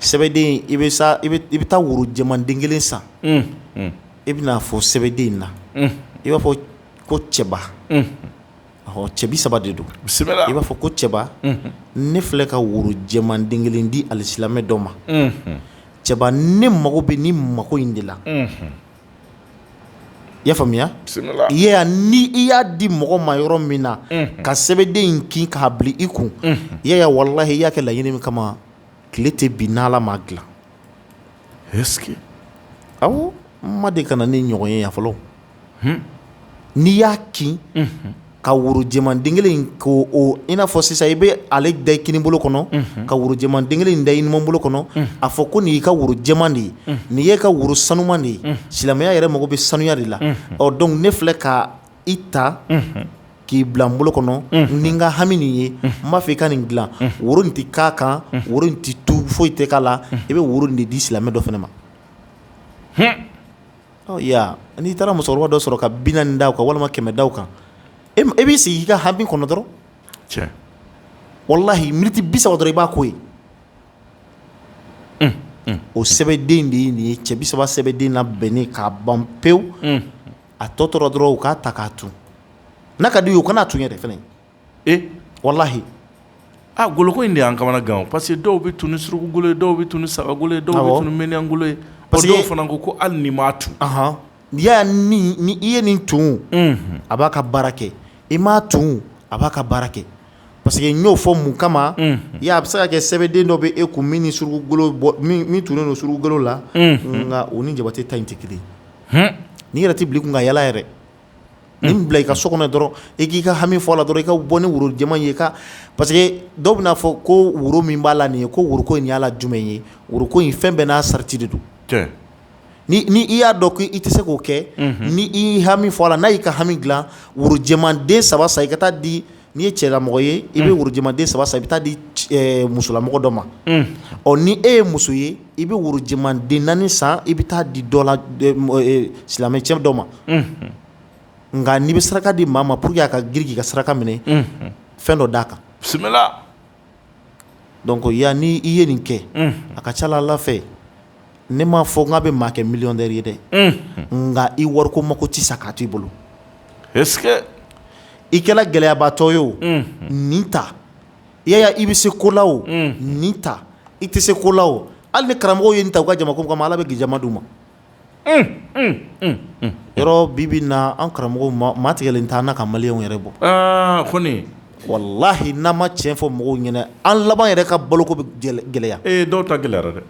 sɛbɛden i bɛ taa woro jɛman den kelen san i bɛna a fɔ sɛbɛden in na i b'a fɔ ko cɛba cɛ bisaba de don i b'a fɔ ko cɛba ne filɛ ka woro jɛman den kelen di alisilamɛ dɔ ma cɛba ne mago bɛ nin mako in de la I y'a faamuya ni i y'a di mɔgɔ ma yɔrɔ min na ka sɛbɛnden in kin k'a bila i kun yaya walahi i y'a kɛ laɲini min kama tile tɛ bin ni ala m'a dila awɔ n ma de ka na nin ɲɔgɔn ye yan fɔlɔ n'i y'a kin ka worojɛman den kelen in ko i n'a fɔ sisan i bɛ ale da i kini bolo kɔnɔ, unhun, ka worojɛman den kelen in da i numan bolo kɔnɔ, unhun, a fɔ ko nin y'i ka woro jɛman de ye, unhun, nin y'e ka woro sanuman de ye, unhun, silamɛya yɛrɛ mago bɛ sanuya de la, unhun, ɔ donc ne filɛ ka i ta, unhun, k'i bila n bolo kɔnɔ, unhun, ni n ka hami nin ye, unhun, n b'a fɛ i ka nin dilan, unhun, woro in tɛ k'a kan, unhun, woro in tɛ tu foyi tɛ k'a la, unhun, i bɛ woro in de di silamɛ dɔ fana ma, hun n'i taara musokɔrɔba dɔ sɔrɔ ka binaani da u kan walima kɛmɛ da u kan e b'i sigi i ka hami kɔnɔ dɔrɔn cɛ walahi miniti bisaba dɔrɔn i b'a ko ye o sɛbɛnden de ye nin ye cɛ bisaba sɛbɛnden labɛnnen k'a ban pewu a tɔ tora dɔrɔn u k'a ta k'a tun n'a ka di u ye u kana a tun yɛrɛ fana ee walahi aa goloko in de y'an kamana gan o parce que dɔw bɛ tun ni surukugolo ye dɔw bɛ tun ni sagagolo ye dɔw bɛ tun ni miniɲangolo ye dɔw fana ko ko hali n'i m'a tun ɔnhɔn n'i y'a ye ni ni i ye nin tun unhun a b'a ka baara kɛ i m'a tun a b'a ka baara kɛ parce que n y'o fɔ mun kama unhun i y'a ye a bɛ se ka kɛ sɛbɛden dɔ bɛ e kun min ni surukugolo min tunnen don surukugolo la unhun nka o ni jabate ta in tɛ kelen ye hun n'i yɛrɛ tɛ bil'i kun ka yaala yɛrɛ nin bila i ka so kɔnɔ dɔrɔn i k'i ka hami fɔ a la dɔrɔn i ka bɔ ni woro jɛman ye ka parce que dɔw bɛna a fɔ ko woro min b'a la nin ye ko woroko in y'a la jumɛn ye woroko in fɛn bɛɛ n'a sarati de don ni i y'a dɔn ko i tɛ se k'o kɛ ni i hami fɔ a la n'a y'i ka hami dilan woro jɛman den saba san i ka taa di N'i ye cɛlamɔgɔ ye i bɛ woro jɛman den saba san i bɛ taa di musolamɔgɔ dɔ ma ɔ ni e ye muso ye i bɛ woro jɛman den naani san i bɛ taa di dɔ la silamɛcɛ dɔ ma nka n'i bɛ saraka di maa ma pour que a ka girin k'i ka saraka minɛ fɛn dɔ d'a kan bisimila donc yan ni i ye nin kɛ a ka ca Ala fɛ ne m'a fɔ k'a bɛ maa kɛ millionnaire ye dɛ nka i wariko mako tɛ sa k'a to i bolo i kɛra gɛlɛyabaatɔ ye o nin ta Yaya i bɛ se ko la o nin ta i tɛ se ko la o hali ni karamɔgɔw ye nin ta u ka jama ko kama Ala bɛ k'i jama d'u ma yɔrɔ bi bi in na an karamɔgɔw maa tigɛlen t'an na ka maliyɛnw yɛrɛ bɔ kɔni walahi n'an ma cɛn fɔ mɔgɔw ɲɛna an laban yɛrɛ ka baloko bɛ gɛlɛya ee dɔw ta gɛlɛyara dɛ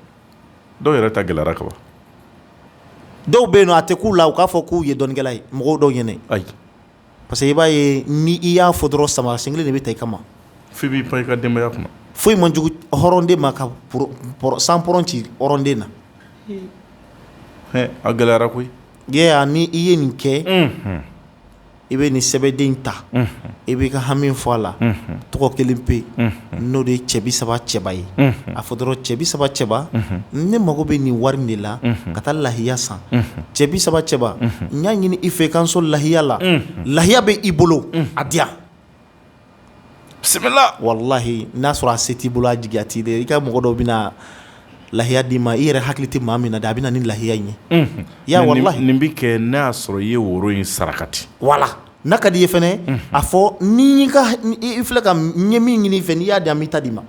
dɔw yɛrɛ ta gɛlɛyara kaban dɔw bɛ yen a tɛ k'u la u k'a fɔ k'u ye dɔnnikɛla ye mɔgɔw dɔw ɲɛna ayi parce que i b'a ye ni i y'a fɔ dɔrɔn samara sen kelen de bɛ ta i kama f'i b'i pan i ka denbayaya kunna foyi man jugu hɔrɔnden ma ka san pɔrɔn ci hɔrɔnden na a gɛlɛyara koyi yan ni i ye nin kɛ i bɛ nin sɛbɛden ta i b'i ka hami fɔ a la tɔgɔ kelen pe n'o de ye cɛ bi saba cɛba ye a fɔ dɔrɔn cɛ bi saba cɛba ne mago bɛ nin wari de la ka taa lahiya san cɛ bi saba cɛba n y'a ɲini i fɛ i ka n sɔn lahiya la lahiya bɛ i bolo a di yan bisimila walahi n'a sɔrɔ a se t'i bolo a jigiya t'i de i ka mɔgɔ dɔ bɛ na lahiya d'i ma i yɛrɛ hakili tɛ maa min na dɛ a bɛ na ni lahiya in ye ya nin bɛ kɛ n'a y'a sɔrɔ i ye woro in sarakati wala N'a ka di i ye fana a fɔ nin filɛ ka n ye min ɲini i fɛ n'i y'a di an b'i ta d'i ma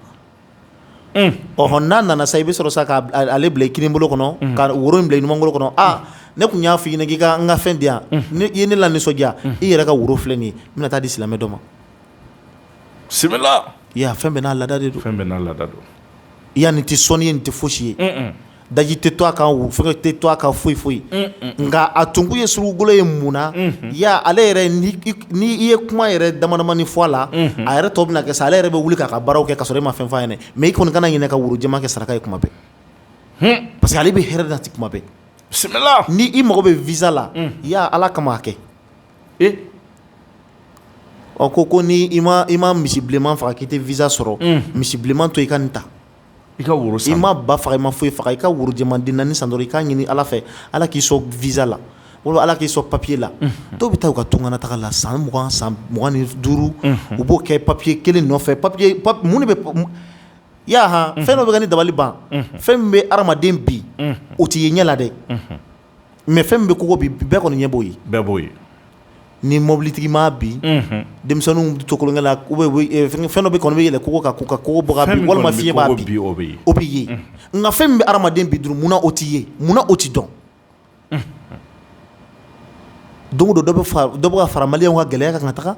ɔ n'a nana sa i bɛ sɔrɔ sa k'ale bila i kini bolo kɔnɔ ka woro in bila i numan bolo kɔnɔ aa ne tun y'a fɔ k'i ka n ka fɛn di yan i ye ne lanisɔndiya i yɛrɛ ka woro filɛ nin n bɛna taa di silamɛ dɔ ma bisimila fɛn bɛɛ n'a laada de don fɛn bɛɛ n'a laada don i yan nin tɛ sɔnni ye nin tɛ fosi ye daji tɛ to a kan fɛn tɛ to a kan foyi foyi nka a tun ye surukukolo ye mun na ya ale yɛrɛ n' i ye kuma yɛrɛ damadamani fɔ a la a yɛrɛ tɔ bɛ kɛ sa ale yɛrɛ bɛ wuli k'a ka baara kɛ ka sɔrɔ e ma fɛn f'a ɲɛna mais i kɔni kana ɲinɛ ka woro jɛman kɛ saraka ye kuma bɛɛ parce que ale bɛ hɛrɛ nati kuma bɛɛ bisimila ni i mago bɛ visa la i y' ala kama kɛ ɔ ko ko ni i ma misi bilenman faga k'i tɛ visa sɔrɔ misi bilenman to i ka nin ta I ka woro san i ma ba faga i ma foyi faga i ka woro jɛman den naani san dɔrɔn i k'a ɲini ala fɛ ala k'i sɔn visa la o ala k'i sɔn papiye la dɔw bɛ taa u ka tunga na taga la san mugan san mugan ni duuru u b'o kɛ papiye kelen nɔfɛ papiye mun de bɛ yaha fɛn dɔ bɛ ka ne dabali ban fɛn min bɛ hadamaden bin o tɛ ye ɲɛ la dɛ mais fɛn min bɛ kogo bin bɛɛ kɔni ɲɛ b'o ye bɛɛ b'o ye ni mɔbilitigi ma bin denmisɛnnin bɛ tolonkɛ la fɛn dɔ bɛ kɔnɔ bɛ yɛlɛ kogo kan ka kogo walima fiɲɛ b'a bin o bɛ o bɛ ye nka fɛn min bɛ hadamaden bin dun munna o tɛ ye munna o tɛ dɔn don o don dɔ bɛ ka fara maliyɛnw ka gɛlɛya kan ka taga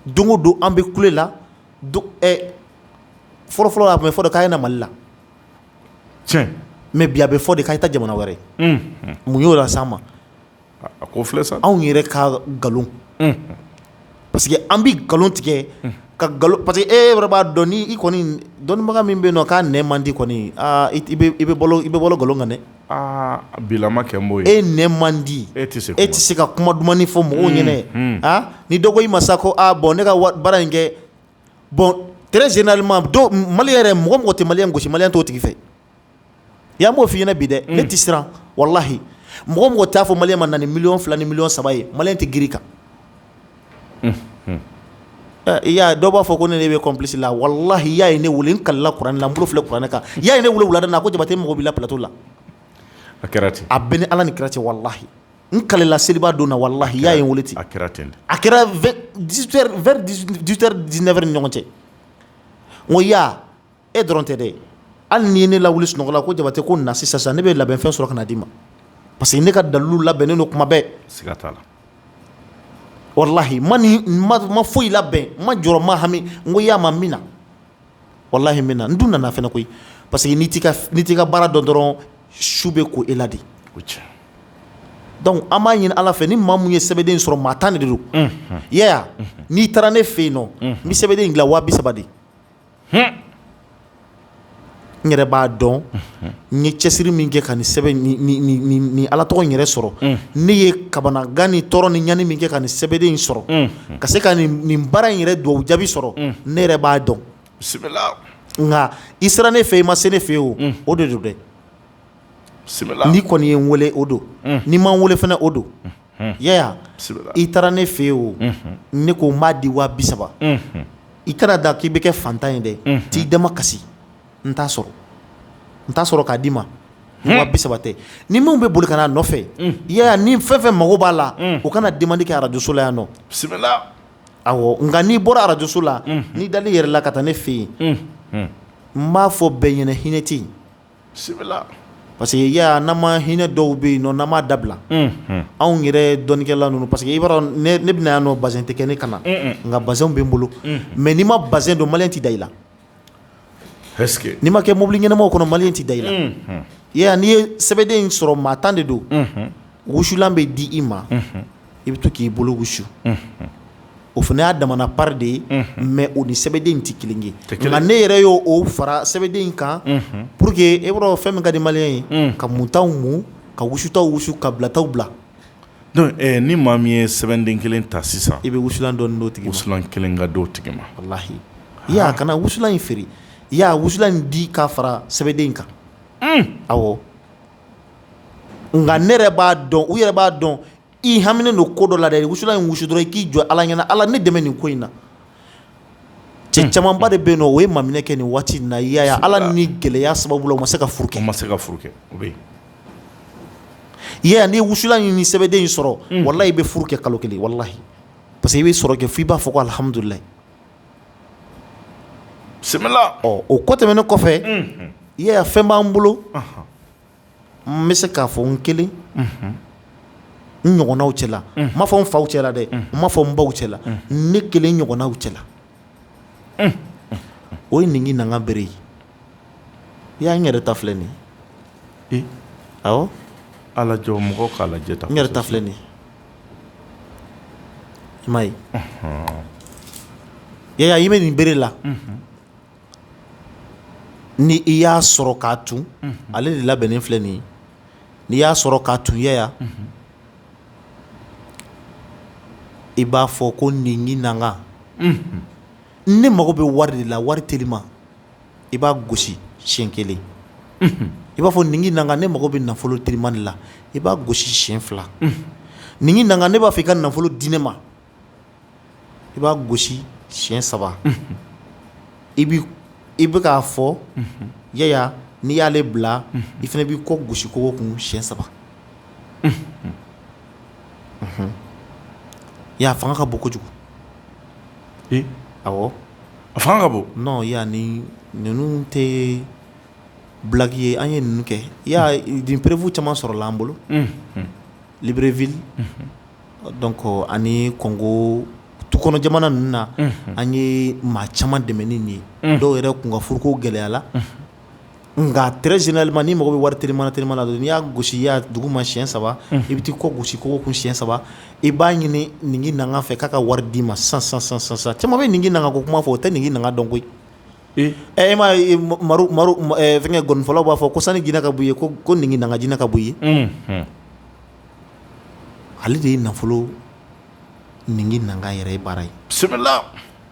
don o don an bɛ kule la fɔlɔfɔlɔ a tun bɛ fɔ k'a ye na mali la tiɲɛ mais bi a bɛ fɔ de k'a ye taa jamana wɛrɛ mun y'o lase an ma a ko filɛ sa anw yɛrɛ ka nkalon parce que an bɛ nkalon tigɛ ka nkalon parce que e yɛrɛ b'a dɔn ni i kɔni dɔnnibaga min bɛ yen nɔ k'a nɛn man di kɔni aa i bɛ balo nkalon kan dɛ aa bi la n ma kɛ n b'o ye e nɛn man di e tɛ se kuma e tɛ se ka kuma dumani fɔ mɔgɔw ɲɛna aa ni dɔ ko i ma sa ko aa bon ne ka baara in kɛ bon très généralement maliyɛn yɛrɛ mɔgɔ mɔgɔ tɛ maliyɛn gosi maliyɛn t'o tigi fɛ ya n b'o f'i ɲɛna bi dɛ ne tɛ siran walahi mɔgɔ mɔgɔ t'a fɔ maliyɛn ma na ni miliyɔn fila ni miliyɔn saba ye maliyɛn tɛ girin i kan ya dɔw b'a fɔ ko ne bɛ complice la walahi ya ye ne wele n kalila kuranɛ la n bolo filɛ kuranɛ kan yaa ye ne wele wulada na ko jabate mago b'i la plateau la a kɛra ten a bɛ ni ala ni kira cɛ walahi n kalila seliba don na walahi ya ye n wele ten, a kɛra ten de, a kɛra 18 heures vers 18 heures 19 heures ni ɲɔgɔn cɛ n ko ya e dɔrɔn tɛ dɛ hali n'i ye ne lawuli sunɔgɔ la ko jabate ko na sisan sisan ne bɛ labɛnfɛn sɔrɔ ka na d'i ma parce que ne ka dalilu labɛnnen don kuma bɛɛ siga t'a la walahi n ma ne ma foyi labɛn n ma jɔrɔ n ma hami n ko ya ma n bɛ na walahi n bɛ na n dun nana fana koyi parce que n'i t'i ka baara dɔn dɔrɔn su bɛ ko e la de donc an b'a ɲini ala fɛ ni maa min ye sɛbɛnden sɔrɔ maa tan de don ya n'i taara ne fɛ yen nɔ n bɛ sɛbɛnden in dilan waa bi saba de n yɛrɛ b'a dɔn n ye cɛsiri min kɛ ka nin sɛbɛn ni ala tɔgɔ yɛrɛ sɔrɔ ne ye kabanagan ni tɔɔrɔ ni ɲani min kɛ ka nin sɛbɛnden in sɔrɔ ka se ka nin baara in yɛrɛ dugawu jaabi sɔrɔ ne yɛrɛ b'a dɔn nka i sera ne fɛ i ma se ne fɛ o o de don dɛ n'i kɔni ye n weele o don n'i ma n weele fana o don yaya i taara ne fɛ o ne ko n b'a di wa bi saba i kana da k'i bɛ kɛ fantan ye dɛ t'i dama kasi n t'a sɔrɔ n t'a sɔrɔ k'a d'i ma wa bi saba tɛ ni minw bɛ boli ka n'a nɔfɛ yaya ni fɛn fɛn mago b'a la o kana demande kɛ arajoso la yan nɔ awɔ nka n'i bɔra arajoso la n'i dalen yɛrɛ la ka taa ne fɛ yen n b'a fɔ bɛɛ ɲɛna hinɛ tɛ parce que yaya n'an ma hinɛ dɔw bɛ yen nɔ n'an m'a dabila anw yɛrɛ dɔnnikɛla ninnu parce que i b'a dɔn ne bɛna yan nɔ bazɛn tɛ kɛ ne kan na nka bazɛn bɛ n bolo mais n'i ma bazɛn don maliyɛn tɛ da i la N'i ma kɛ mobili ɲɛnamaw kɔnɔ maliyɛn tɛ da i la yaya n'i ye sɛbɛnden in sɔrɔ maa tan de don wusulan bɛ di i ma i bɛ to k'i bolo wusu o fana y'a damana part de ye mais o ni sɛbɛnden tɛ kelen ye nka ne yɛrɛ y' o fara sɛbɛnden kan pour que e b'a dɔn fɛn min ka di maliyɛn ye ka muntaw mun ka wusutaw wusu ka bilataw bila Donc ɛɛ ni maa min ye sɛbɛnden 1 ta sisan i bɛ wusulan dɔɔni d'o tigi ma wusulan 1 ka d'o tigi ma walahi yaya kana wusulan in feere yaya wusulan in di k'a fara sɛbɛnden in kan unh awɔ nka ne yɛrɛ b'a dɔn u yɛrɛ b'a dɔn i haminen don ko dɔ la dɛ wusulan in wusu dɔrɔn i k'i jɔ Ala ɲɛna Ala ne dɛmɛ nin ko in na cɛ camanba de bɛ yen nɔ o ye maminɛ kɛ nin waati in na i y'a ye Ala ni gɛlɛya sababu la u ma se ka furu kɛ, u ma se ka furu kɛ, o bɛ yen, i y'a ye n'i ye wusulan in ni sɛbɛden in sɔrɔ, unhun, walahi i bɛ furu kɛ kalo kelen walahi parce que i bɛ sɔrɔ kɛ f'i b'a fɔ ko alihamudulilayi, bisimila, ɔ o ko tɛmɛnen kɔfɛ, unhun, i y'a ye fɛn b'an bolo, anhan N bɛ se k'a fɔ n kelen n ɲɔgɔnnaw cɛ la n ma fɔ n faw cɛla dɛ n ma fɔ n baw cɛ la ne kelen ɲɔgɔnnaw cɛ la o ye ninkinanka bere ye yaya n yɛrɛ ta filɛ nin ye ɔ ala jɔ mɔgɔw k'a lajɛ n yɛrɛ ta filɛ nin i m'a ye yaya i bɛ nin bere la ni i y'a sɔrɔ k'a tun ale de labɛnnen filɛ nin n'i y'a sɔrɔ k'a tun yaya i b'a fɔ ko ninkinanka ne mago bɛ wari de la wari teliman i b'a gosi siɲɛ kelen i b'a fɔ ninkinanka ne mago bɛ nafolo teliman de la i b'a gosi siɲɛ fila ninkinanka ne b'a fɔ i ka nafolo di ne ma i b'a gosi siyɛn saba i i bɛ k'a fɔ ya n'i y'ale bila i fana b'i kɔ gosi kogo kun siyɛn saba ya fanga ka bon kojugu a fanga ka bon non ya ninnu tɛ blague ye an ye ninnu kɛ ya nin preuve caman sɔrɔla an bolo Libreville donc ani Kongo tukɔnɔ jamana ninnu na an ye maa caman dɛmɛ ni nin ye dɔw yɛrɛ kun ka furuko gɛlɛyala nka très généralement n'i mago bɛ wari teliman na n'i y'a gosi ya dugu ma siyɛn saba i bɛ taa i kɔ gosi kogo kun siyɛn saba i b'a ɲini ninginanga fɛ k'a ka wari d'i ma san caman bɛ ninginanga ko kuma fɔ o tɛ ninginanga dɔn koyi e e ma fɛnkɛ ngɔnifɔlaw b'a fɔ ko sani jinɛ ka bɔ i ye ko ninginanga jinɛ ka bɔ i ye Ale de ye nafolo ninginanga yɛrɛ ye baara ye bisimila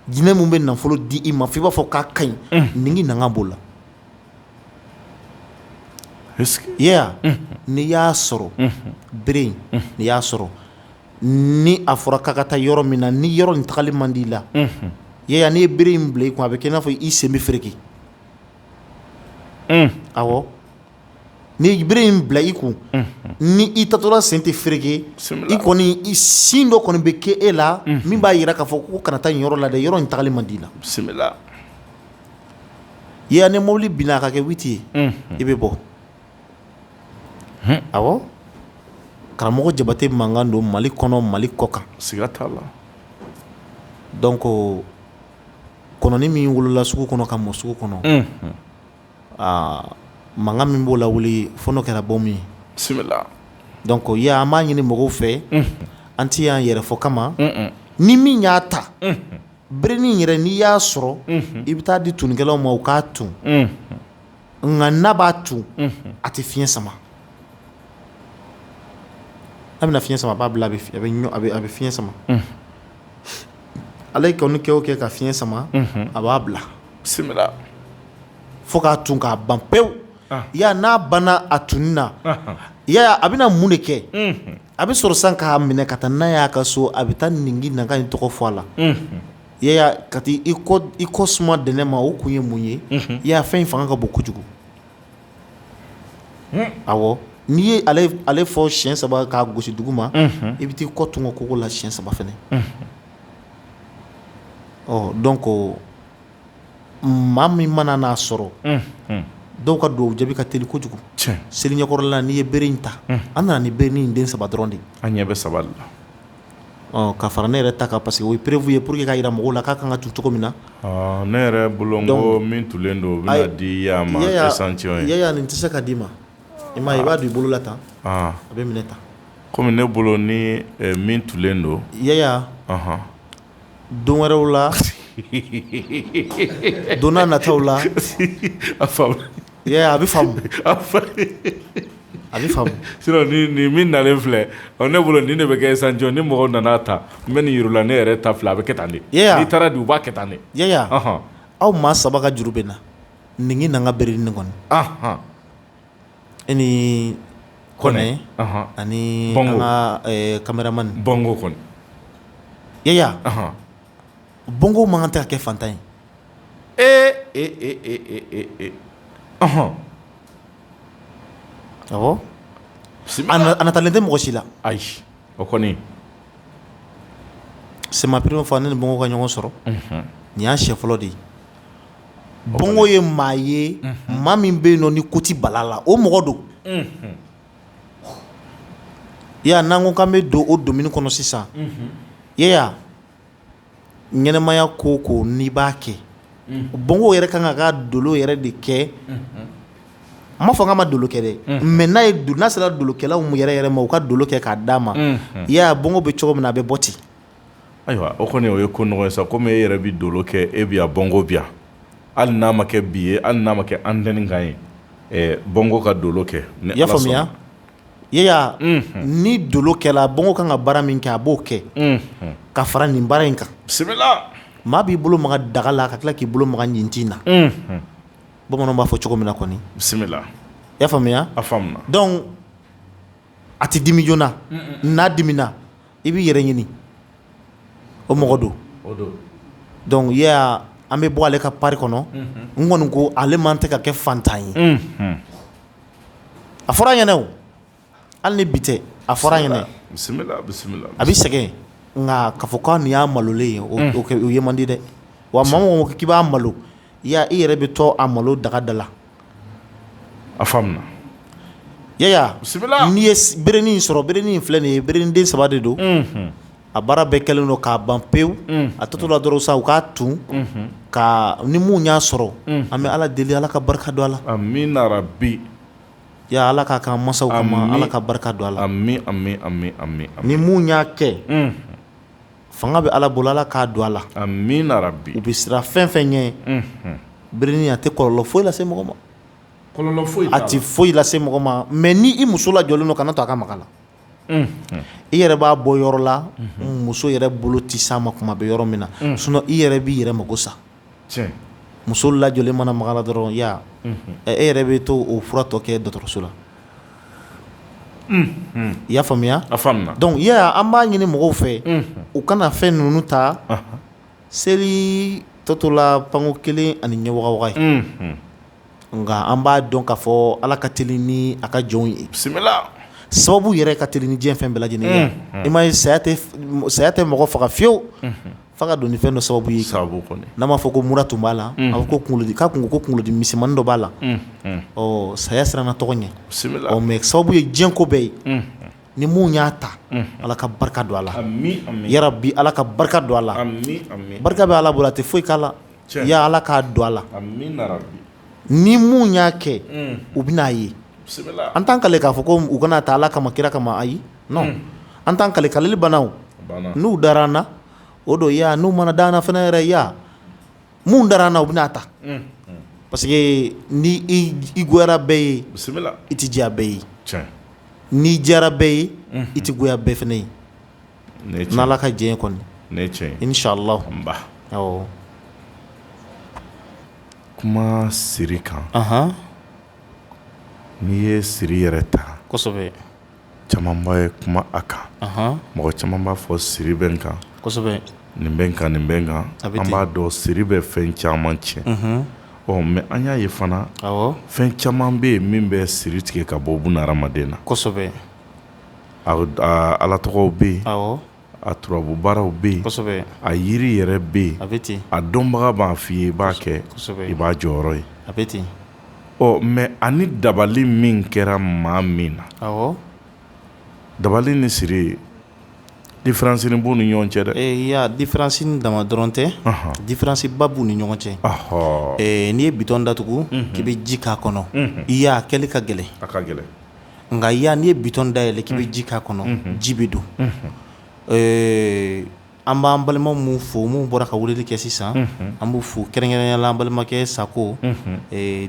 jinɛ min bɛ nafolo di i ma fo i b'a fɔ k'a ka ɲi ninginanga b'o la ya n'i y'a sɔrɔ bere in n'i y'a sɔrɔ ni a fɔra k'a ka taa yɔrɔ min na ni yɔrɔ nin tagali man di i la ya n'i ye bere in bila i kun a bɛ kɛ i n'a fɔ i sen bɛ fereke n'i ye bere in bila i kun ni i taatɔla sen tɛ fereke i kɔni signe dɔ kɔni bɛ kɛ e la min b'a yira k'a fɔ ko kana taa nin yɔrɔ la dɛ yɔrɔ in tagali man d'i la bisimila ya ni mobili binna a ka kɛ witi ye i bɛ bɔ awɔ karamɔgɔ Jabate mankan don mali kɔnɔ mali kɔ kan siga t'a la donc kɔnɔnin min wolola sugu kɔnɔ ka mɔ sugu kɔnɔ aa mankan min b'o lawuli fo n'o kɛra bom ye, bisimila, donc ya an b'a ɲini mɔgɔw fɛ, unhun, an tɛ yan yɛrɛfɔ kama, un-un, ni min y'a ta, unhun, berenin yɛrɛ n'i y'a sɔrɔ, unhun, i bɛ taa di tunnikɛlaw ma u k'a tun, unhun, nka n'a b'a tun, unhun, a tɛ fiɲɛ sama, n'a bɛna fiɲɛ sama a b'a bila a bɛ fiɲɛ sama, unhun Ale kɔni kɛ o kɛ ka fiɲɛ sama a b'a bila bisimila fo k'a tun k'a ban pewu ya n'a banna a tunni na ya a bɛna mun de kɛ a bɛ sɔrɔ san k'a minɛ ka taa n'a y'a ka so a bɛ taa ninginanga in tɔgɔ fɔ a la ya ka taa i kɔ suma dɛnɛn ma o kun ye mun ye ya fɛn in fanga ka bon kojugu awɔ n'i ye ale fɔ siyɛn saba k'a gosi dugu ma i bɛ taa i kɔ tugun kogo la siyɛn saba fɛnɛ ɔ donc maa min mana n'a sɔrɔ dɔw ka duwawu jaabi ka teli kojugu seli ɲɛkɔrɔla n'i ye bere in ta an nana ni bere in den saba dɔrɔn de an ɲɛ bɛ saba la Ɔ ka fara ne yɛrɛ ta kan parce que o ye prévu ye pour que k'a yira mɔgɔw la k'a kan ka tu cogo min na ne yɛrɛ bolo n ko min tulen don o bɛna di Yaya nin tɛ se ka d'i ma i m'a ye i b'a don i bolo la tan a bɛ minɛ tan kɔmi ne bolo ni min tulen don Yaya don wɛrɛw la donna nataw la a fa A bɛ a bɛ sinon nin min nalen filɛ ne bolo nin de bɛ kɛ échantillon ni mɔgɔw nana ta n bɛ nin yir'u la ne yɛrɛ ta filɛ a bɛ kɛ tan n'i taara don u b'a kɛ tan de Yaya aw maa saba ka juru bɛ n na nin n'an ka berenin kɔni e ni Kɔnɛ ani an ka cameraman Bongo kɔni Yaya Bongo man kan tɛ ka kɛ fantan ye ee e e e e ɔnhɔn, awɔ, a natalen tɛ mɔgɔ si la, ayi, o kɔni, c'est ma première fois ne ni Bongo ka ɲɔgɔn sɔrɔ, unhun, nin y'a siɲɛ fɔlɔ de ye, Bongo ye maa ye, unhun, maa min bɛ yen nɔ ni ko tɛ bal'a la o mɔgɔ don, unhun, Yaya n'an ko k'an bɛ don o domaine kɔnɔ sisan, unhun, Yaya ɲɛnɛmaya ko ko n'i b'a kɛ Bongo yɛrɛ ka kan ka dolo yɛrɛ de kɛ n m'a fɔ k'a ma dolo kɛ dɛ mais n'a ye n'a sera dolokɛlaw yɛrɛ yɛrɛ ma u ka dolo kɛ k'a d'a ma Yaya Bongo bɛ cogo min na a bɛ bɔ ten ayiwa o kɔni o ye ko nɔgɔ ye sa kɔmi e yɛrɛ bɛ dolo kɛ e bɛ yan Bongo bɛ yan hali n'a ma kɛ bi ye hali n'a ma kɛ antenne kan ye Bongo ka dolo kɛ y'a faamuya ni dolo kɛla Bongo kan ka baara min kɛ a b'o kɛ ka fara nin baara in kan maa b'i bolo maga daga la ka tila k'i bolo maga ɲintin na bamanan b'a fɔ cogo min na kɔni bisimila i y'a faamuya a donc a tɛ dimi joona n'a dimina i b'i yɛrɛ ɲini o mɔgɔ don donc Yaya an bɛ bɔ ale ka pari kɔnɔ n kɔni ko ale man tɛ ka kɛ fantan ye a fɔra an ɲɛna hali ni bi tɛ a fɔra an ɲɛna a bɛ sɛgɛn nka k'a fɔ ko nin y'a malolen ye o ye man di dɛ wa maa o maa k'i b'a malo i yɛrɛ bɛ to a malo dagada la a faamuna Yaya n'i ye berenin sɔrɔ berenin filɛ nin ye berenin den saba de don a baara bɛɛ kɛlen don k'a ban pewu a tɔ tola dɔrɔn sa u k'a tun ka ni mun y'a sɔrɔ an bɛ ala deli ala ka barika don a la amiina rabi Yaya ala k'a k'an masaw kama ala ka barika don a la ni mun y'a kɛ fanga bɛ ala bolo ala k'a don a la amiina rabi u bɛ siran fɛn fɛn ɲɛ berenin a tɛ kɔlɔlɔ foyi lase mɔgɔ ma kɔlɔlɔ a tɛ foyi lase mɔgɔ ma mais n'i muso lajɔlen don kana to a ka mag'a la i yɛrɛ b'a bɔ yɔrɔ la muso yɛrɛ bolo tɛ s'a ma kuma bɛ yɔrɔ min na sinon i yɛrɛ b'i yɛrɛ mako sa muso lajɔlen mana maga a la dɔrɔn yaya e yɛrɛ bɛ to o fura tɔ kɛ dɔgɔtɔrɔso la i y'a faamuya donc yaya an b'a ɲini mɔgɔw fɛ u kana fɛn ninnu ta seli tɔtɔla panko kelen ani ɲɛ nka an b'a dɔn k'a fɔ ala ka teli ni a ka jɔnw ye bisimila sababu yɛrɛ ka teli ni diɲɛ fɛn bɛɛ lajɛlen ye i m'a ye saya tɛ mɔgɔ faga fiyewu f'a ka don ni fɛn dɔ sababu ye n'a m'a fɔ ko mura tun b'a la a ko kundi ka kun ko kunkolodimi misɛnmannin dɔ b'a la ɔ saya siranna tɔgɔ ɲɛ bisimila mais sababu ye diɲɛ ko bɛɛ ye ni minnu y'a ta ala ka barika don a la yarabi ala ka barika don a la barika bɛ ala bolo a tɛ foyi k'a la ya ala k'a don a la ni min y'a kɛ u bɛn'a ye an t'an kale k'a fɔ ko u kan'a ta ala kama kira kama ayi non an t'an kale kaleli banna wo n'u dara an na o don yaya n'u ma na da an na fana yɛrɛ yaya minnu dara an na u bɛn'a ta parce que ni i goyara bɛɛ ye i tɛ diya bɛɛ ye n'i diyara bɛɛ ye i tɛ goya bɛɛ fana ye n' ka diɲɛ kɔni ne cɛ i ni salanba kuma siri kan n'i ye siri yɛrɛ ta caman bɛ kuma a kan mɔgɔ caman b'a fɔ siri bɛ n kan nin bɛ n kan nin bɛ n kan an b'a dɔn siri bɛ fɛn caman tiɲɛ ɔ mais an y'a ye fana fɛn caman bɛ yen min bɛ siri tigɛ ka bɔ buna hadamaden na ala tɔgɔw bɛ yen a turabu baaraw bɛ yen a yiri yɛrɛ bɛ yen a bɛ ten a dɔnbaga b'a fɔ i ye i b'a kɛ i b'a jɔyɔrɔ ye a bɛ ten ɔ mais ani dabali min kɛra maa min na dabali ni siri différence nin b'u ni ɲɔgɔn cɛ dɛ ee yaya différence dama dɔrɔn tɛ différence ba b'u ni ɲɔgɔn cɛ n'i ye bitɔn datugu k'i bɛ ji k'a kɔnɔ yaya a kɛli ka gɛlɛn a ka gɛlɛn nka ya n'i ye bitɔn dayɛlɛ k'i bɛ ji k'a kɔnɔ ji bɛ don an b'an balima min fo minnu bɔra ka weleli kɛ sisan an b'u fo kɛrɛnkɛrɛnnenya la an balimakɛ sako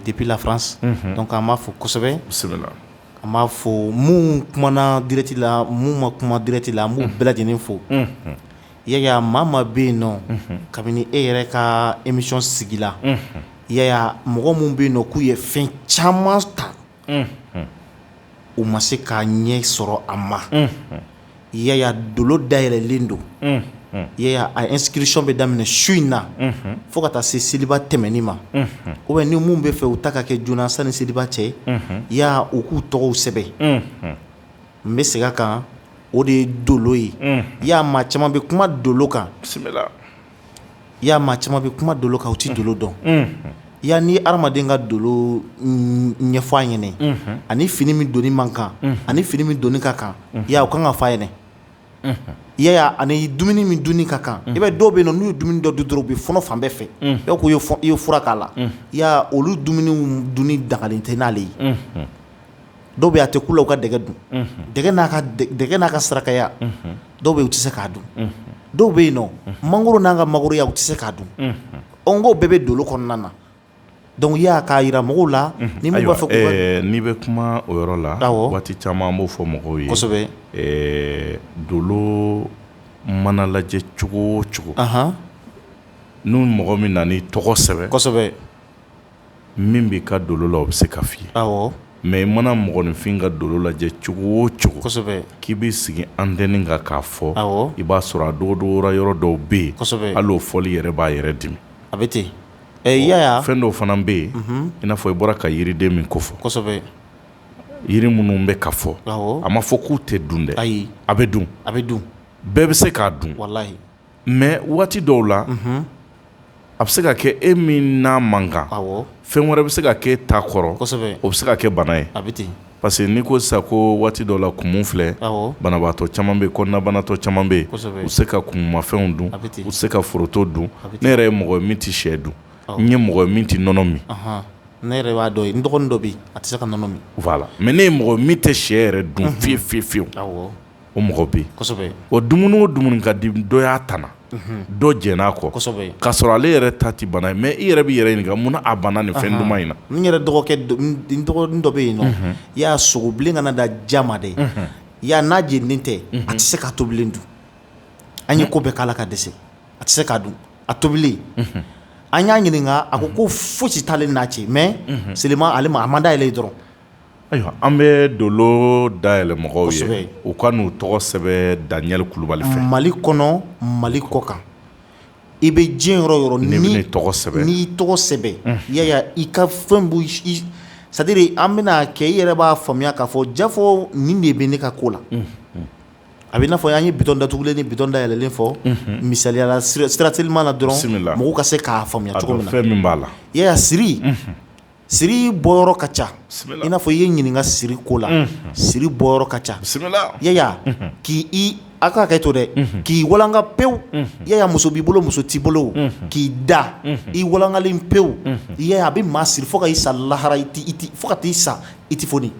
depuis la france donc an b'a fo kosɛbɛ an b'a fo minnu kumana direct la minnu ma kuma direct la an b'u bɛɛ lajɛlen fo yaya maa ma bɛ yen nɔ kabini e yɛrɛ ka émission sigila yaya mɔgɔ minnu bɛ yen nɔ k'u ye fɛn caman ta u ma se k'a ɲɛ sɔrɔ a ma yaya dolo dayɛlɛlen don yaya a inscription bɛ daminɛ su in na fo ka taa se seliba tɛmɛni ma ou bien ni minnu bɛ fɛ u ta ka kɛ joona sani seliba cɛ ya u k'u tɔgɔw sɛbɛn n bɛ segin a kan o de ye dolo ye ya maa caman bɛ kuma dolo kan Ya maa caman bɛ kuma dolo kan u tɛ dolo dɔn ya ni hadamaden ka dolo ɲɛfɔ a ɲɛna ani fini min doni man kan ani fini min doni ka kan ya o kan ka f'a ɲɛna yaya ani dumuni min duni ka kan i bɛ dɔw bɛ yen nɔ n'u ye dumuni dɔ dun dɔrɔn u bɛ fɔɔnɔ fan bɛɛ fɛ dɔw ko i ye fura k'a la ya olu dumuni duni dagalen tɛ n'ale ye dɔw bɛ a tɛ kun u la u ka dɛgɛ dun dɛgɛ n'a ka sarakaya dɔw bɛ u tɛ se k'a dun dɔw bɛ yen nɔ mangoro n'a ka mangoroya u tɛ se k'a dun o ko bɛɛ bɛ dolo kɔnɔna na donc y'a k'a yira mɔgɔw la ni b'a fɔ n'i bɛ kuma o yɔrɔ la waati caman an b'o fɔ mɔgɔw ye kosɛbɛ dolo mana lajɛ cogo o cogo n'u mɔgɔ min nan'i tɔgɔ sɛbɛn min b'i ka dolo la o bɛ se ka f'i ye mais i mana mɔgɔninfin ka dolo lajɛ cogo o cogo k'i b'i sigi antenne kan k'a fɔ i b'a sɔrɔ a dogodogora yɔrɔ dɔw bɛ yen hali o fɔli yɛrɛ b'a yɛrɛ dimi a bɛ ten ɛ fɛn dɔw fana bɛ yen i n'a fɔ i bɔra ka yiriden min kofɔ yiri minnu bɛ ka fɔ a ma fɔ k'u tɛ dun dɛ ayi a bɛ dun a bɛ dun bɛɛ bɛ se k'a dun walayi mais waati dɔw la, unhun, a bɛ se ka kɛ e min n'a man kan, awɔ, fɛn wɛrɛ bɛ se ka kɛ e ta kɔrɔ, kosɛbɛ, o bɛ se ka kɛ bana ye, a bɛ ten, parce que n'i ko sisan ko waati dɔw la kumu filɛ, awɔ, banabagatɔ caman bɛ yen kɔnɔnabanatɔ caman bɛ yen, kosɛbɛ, u tɛ se ka kumumafɛnw dun, a bɛ ten, u tɛ se ka foroto dun, a bɛ ten, ne yɛrɛ ye mɔgɔ ye min tɛ shɛ dun, awɔ, n ye mɔgɔ ye min tɛ nɔnɔ min, ɔnhɔn, ne yɛrɛ b'a dɔn, n dɔgɔnin dɔ bɛ yen a tɛ se ka nɔnɔ min, voilà, mais ne ye mɔgɔ ye min tɛ shɛ yɛrɛ dun fiyewu fiyewu, awɔ. o mɔgɔ bɛ yen o dumuni o dumuni ka di dɔ y'a tana dɔ jɛnn'a kɔ ka sɔrɔ ale yɛrɛ ta tɛ bana ye mais i yɛrɛ b'i yɛrɛ ɲininka mun na a banna nin fɛn duman in na n yɛrɛ dɔgɔkɛ dɔ bɛ yen nɔ ya sogobilen kana da ja ma dɛ ya n'a jeninen tɛ a tɛ se k'a tobilen dun an ye ko bɛɛ k'a la ka dɛsɛ a tɛ se k'a dun a tobilen an y'a ɲininka a ko ko fosi t'ale n'a cɛ mais seulement ale ma a man d'ale ye dɔrɔn Ayiwa an bɛ dolo dayɛlɛ mɔgɔw ye u ka n'u tɔgɔ sɛbɛn Daniel Kulubali fɛ Mali kɔnɔ Mali kɔkan i bɛ diɲɛ yɔrɔ o yɔrɔ n'i tɔgɔ sɛbɛn n'i tɔgɔ sɛbɛn yaya i ka fɛn c'est à dire an bɛna kɛ i yɛrɛ b'a faamuya k'a fɔ jaa fɔ nin de bɛ ne ka ko la a bɛ i n'a fɔ an ye bitɔn datugulen ni bitɔn dayɛlɛlen fɔ misaliya la sira teliman na dɔrɔn mɔgɔw ka se k'a faamuya cogo min fɛn min b'a la i siri siri bɔyɔrɔ ka ca i n'a fɔ i ye ɲininka siri ko la siri bɔyɔrɔ ka ca Yaya k' aw ka kɛ to dɛ k'i walanka pewu Yaya muso b'i bolo muso t'i bolo k'i da i walankalen pewu Yaya a bɛ maa siri fo ka i sa lahara fo ka t'i sa i tɛ foni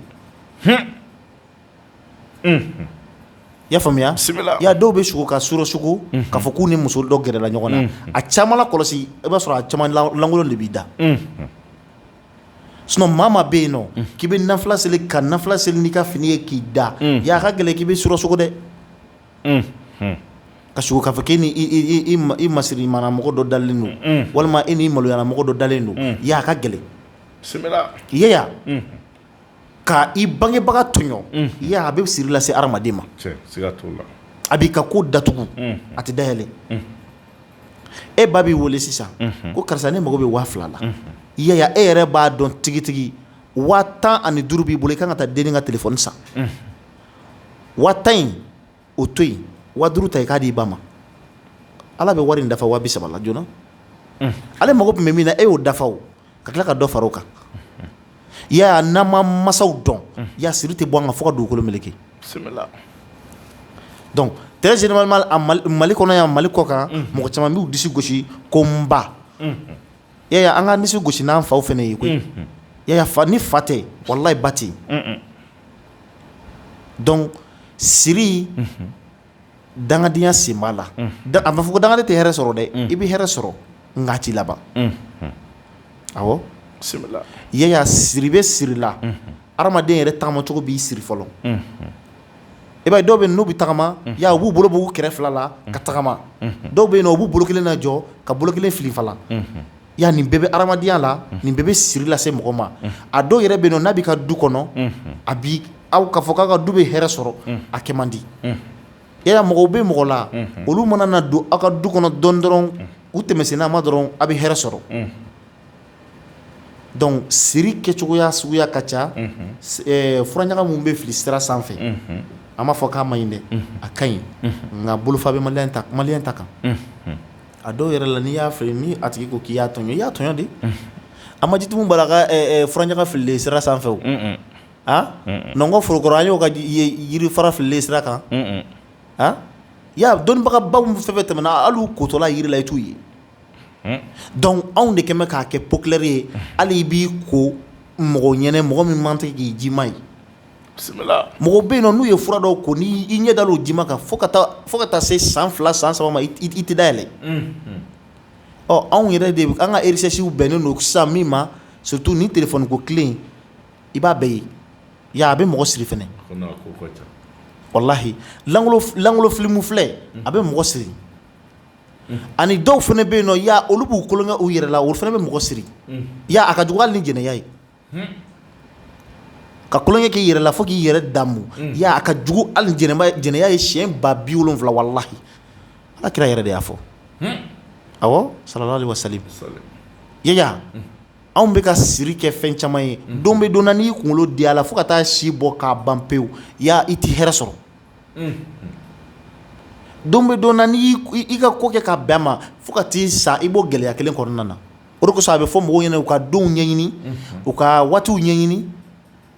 I y'a faamuya ya dɔw bɛ sugo ka surɔ sugo k'a fɔ k'u ni muso dɔ gɛrɛla ɲɔgɔn na a caman lakɔlɔsi i b'a sɔrɔ a caman lankolon de b'i da sinon maa bɛ yen nɔ k'i bɛ nafila seli ka nafila seli n'i ka fini ye k'i da ya ka gɛlɛn k'i bɛ surɔ sugo dɛ ka sugo k'a fɔ k'i ni masirimana mɔgɔ dɔ dalen don walima i ni maloyana mɔgɔ dɔ dalen don ya ka gɛlɛn Yaya Ka i bangebaga tɔɲɔ Yaya a bɛ siri lase hadamaden ma, tiɲɛ, siga t'o la, a b'i ka ko datugu a tɛ dayɛlɛ e ba b'i wele sisan ko karisa ne mago bɛ waa fila la Yaya e yɛrɛ b'a dɔn tigitigi waa tan ani duuru b'i bolo i ka kan ka taa denni ka telefɔni san waa tan in o to yen waa duuru ta i k'a di i ba ma Ala bɛ wari in dafa waa bi saba la joona ale mago tun bɛ min na e y'o dafa o ka tila ka dɔ fara o kan Yaya n'an ma masaw dɔn ya siri tɛ bɔ an kan fo ka dugukolo meleke donc très généralement mali kɔnɔ yan mali kɔkan mɔgɔ caman b'u disi gosi ko n ba Yaya an ka disi gosi n'an faw fɛnɛ ye koyi Yaya ni fa tɛ walayi ba tɛ donc siri dangadenya sen b'a la a ma fɔ ko dangaden tɛ hɛrɛ sɔrɔ dɛ i bɛ hɛrɛ sɔrɔ nka a t'i laban awɔ Yaya siri bɛ siri la adamaden yɛrɛ tagamacogo b'i siri fɔlɔ i b'a ye dɔw bɛ yen n'u bɛ tagama ya u b'u bolo b'u kɛrɛ fila la ka tagama dɔw bɛ yen u b'u bolo kelen najɔ ka bolo kelen filifala Ya nin bɛɛ bɛ hadamadenya la nin bɛɛ bɛ siri lase mɔgɔ ma a dɔw yɛrɛ bɛ yen nɔ n'a b'i ka du kɔnɔ a bi aw k'a fɔ k'aw ka du bɛ hɛrɛ sɔrɔ a kɛ man di Yaya mɔgɔw bɛ mɔgɔ la olu mana na don aw ka du kɔnɔ dɔɔnin dɔrɔn u tɛmɛsen n'a ma dɔrɔn a bɛ hɛrɛ sɔrɔ donc siri kɛcogoya suguya ka ca furaɲaga minnu bɛ fili sira sanfɛ an m'a fɔ k'a man ɲi dɛ a ka ɲi nka bolofa bɛ maliyɛn ta kan A dɔw yɛrɛ la n'i y'a fɔ min a tigi ko k'i y'a tɔɲɔ i y'a tɔɲɔ de, unhun, an ma Jitumu Bala ka furaɲaga fililen sira sanfɛ wo, un-un, an, Nɔnkɔn Forokoro an y'o ka yiri fara fililen ye sira kan, un-un, an, Yaya dɔnnibagabaw fɛn o fɛn tɛmɛna hali u kotɔla yiri la i t'u ye, unhun, donc anw de kɛn bɛ k'a kɛ populaire ye hali i b'i ko mɔgɔ ɲɛna mɔgɔ min man tɛ k'i ji ma ye mɔgɔw bɛ yen nɔ n'u ye fura dɔw ko n'i ɲɛ dal'o ji ma kan fo ka taa se san fila san saba ma i tɛ dayɛlɛ ɔ anw yɛrɛ de an ka recherche bɛnnen don sisan min ma surtout nin téléphone ko tile in i b'a bɛɛ ye i y'a ye a bɛ mɔgɔ siri fana walahi lankolon film filɛ a bɛ mɔgɔ siri ani dɔw fana bɛ yen nɔ i y'a olu b'u tulonkɛ u yɛrɛ la olu fana bɛ mɔgɔ siri i y'a ye a ka jugu hali ni jɛnɛya ye Ka kolon k'i yɛrɛ la fo k'i yɛrɛ damu a ka jugu hali ni jɛnɛya ye siyɛn ba bi wolonwula walahi ala kira yɛrɛ de y'a fɔ awɔ sallallahu alaihi wasallam ya anw bɛ ka siri kɛ fɛn caman ye don bɛ don na n'i kunkolo di a la fo ka taa si bɔ k'a ban pewu i tɛ hɛrɛ sɔrɔ don bɛ don na n'i ka ko kɛ ka bɛn a ma fo ka t'i sa i b'o gɛlɛya kelen kɔnɔna na O de kosɔn a bɛ fɔ mɔgɔw ɲɛna u ka donw ɲɛɲini unhun u ka waatiw ɲɛɲini